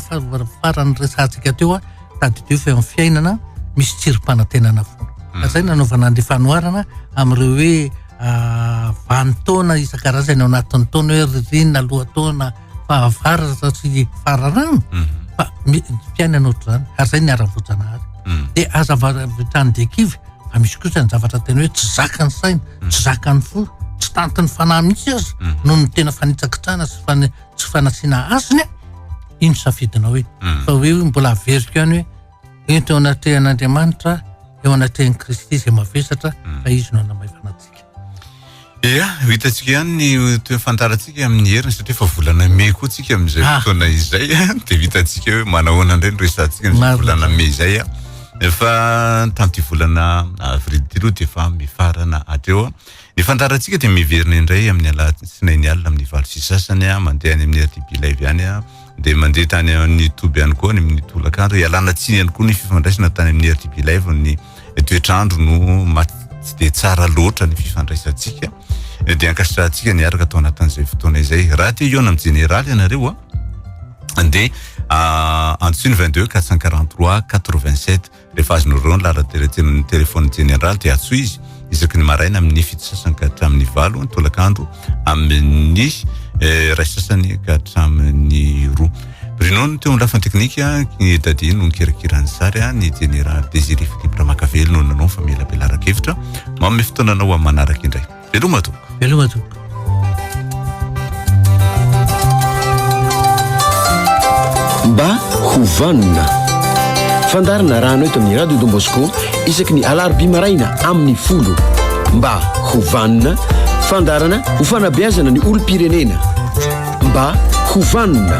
farany resahantsika teo an, tadidio fa eo amin'ny fiainana misy tsirim-panantenana foana. Hmm. Ka zay nanaovana ny fanoharana amin'ireo hoe ah, vanin-taona isan-karazany ao anatin'ny taona hoe ririnina, lohataona, fahavaratra sy fararano mhm. fa ny fiainana ohatr'izany ary zay ny ara-boajanahary mhm. dia aza vavitrany dia kivy fa misy kosa ny zavatra tena hoe tsy zakany saina mhm. tsy zakany fo tsy tantiny fanahy mihitsy azy noho ny tena fanitsakitrana sy fana tsy fanasiana azony a iny safidinao hoe fa hoe hoe mbola averiko any hoe ento eo anatrehan'andriamanitra eo anatrehan'i kristy izay mavesatra fa izy no anamaivanat Ia, ho hitantsika ihany ny toe fantarantsika amin'ny heriny satria efa volana mey koa tsika amin'izay ah. fotoana izay dia hitantsika hoe manahoana indray ny resantsika ny volana mey izay a. Efa tamin'ity volana avril ity aloha dia efa mifarana hatreo. Ny fantarantsika dia miverina indray amin'ny alatsinainy alina amin'ny valo sy sasany a, mandeha any amin'ny RTP Live ihany a. Dia mandeha tany amin'ny toby ihany koa ny amin'ny tolakandro. Ialana tsiny ihany koa ny fifandraisana tany amin'ny RTP Live ny toetr'andro no mat tsy dia tsara loatra ny fifandraisantsika eh, dia ankasitrahantsika ny araka tao anatin'izay fotoana izay raha te hihaona amin'ny jeneraly ianareo a ah, dia ah, antsony 22 443 87 rehefa azonareo ny lalan-teratsy amin'ny telefaon'ny jeneraly dia atsoy izy isaky ny maraina amin'ny fito sasany ka hatramin'ny valo ny tolakandro amin'ny iray sasany ka hatramin'ny roa Bruno no teo amin'ny lafiny teknika ny Dadi no nikirakira ny sary a ny Jenera Désiré Philippe Ramakavelo no nanao fa melabelaraka hevitra manome fotoana anao amin'ny manaraka indray veloma tompoko veloma tompoko Mba ho vanona. Fandaharana rano eto amin'ny Radio Don Bosco isaky ny alarobia maraina amin'ny folo. Mba ho vanona, fandaharana ho fanabeazana ny olom-pirenena. Mba ho vanona.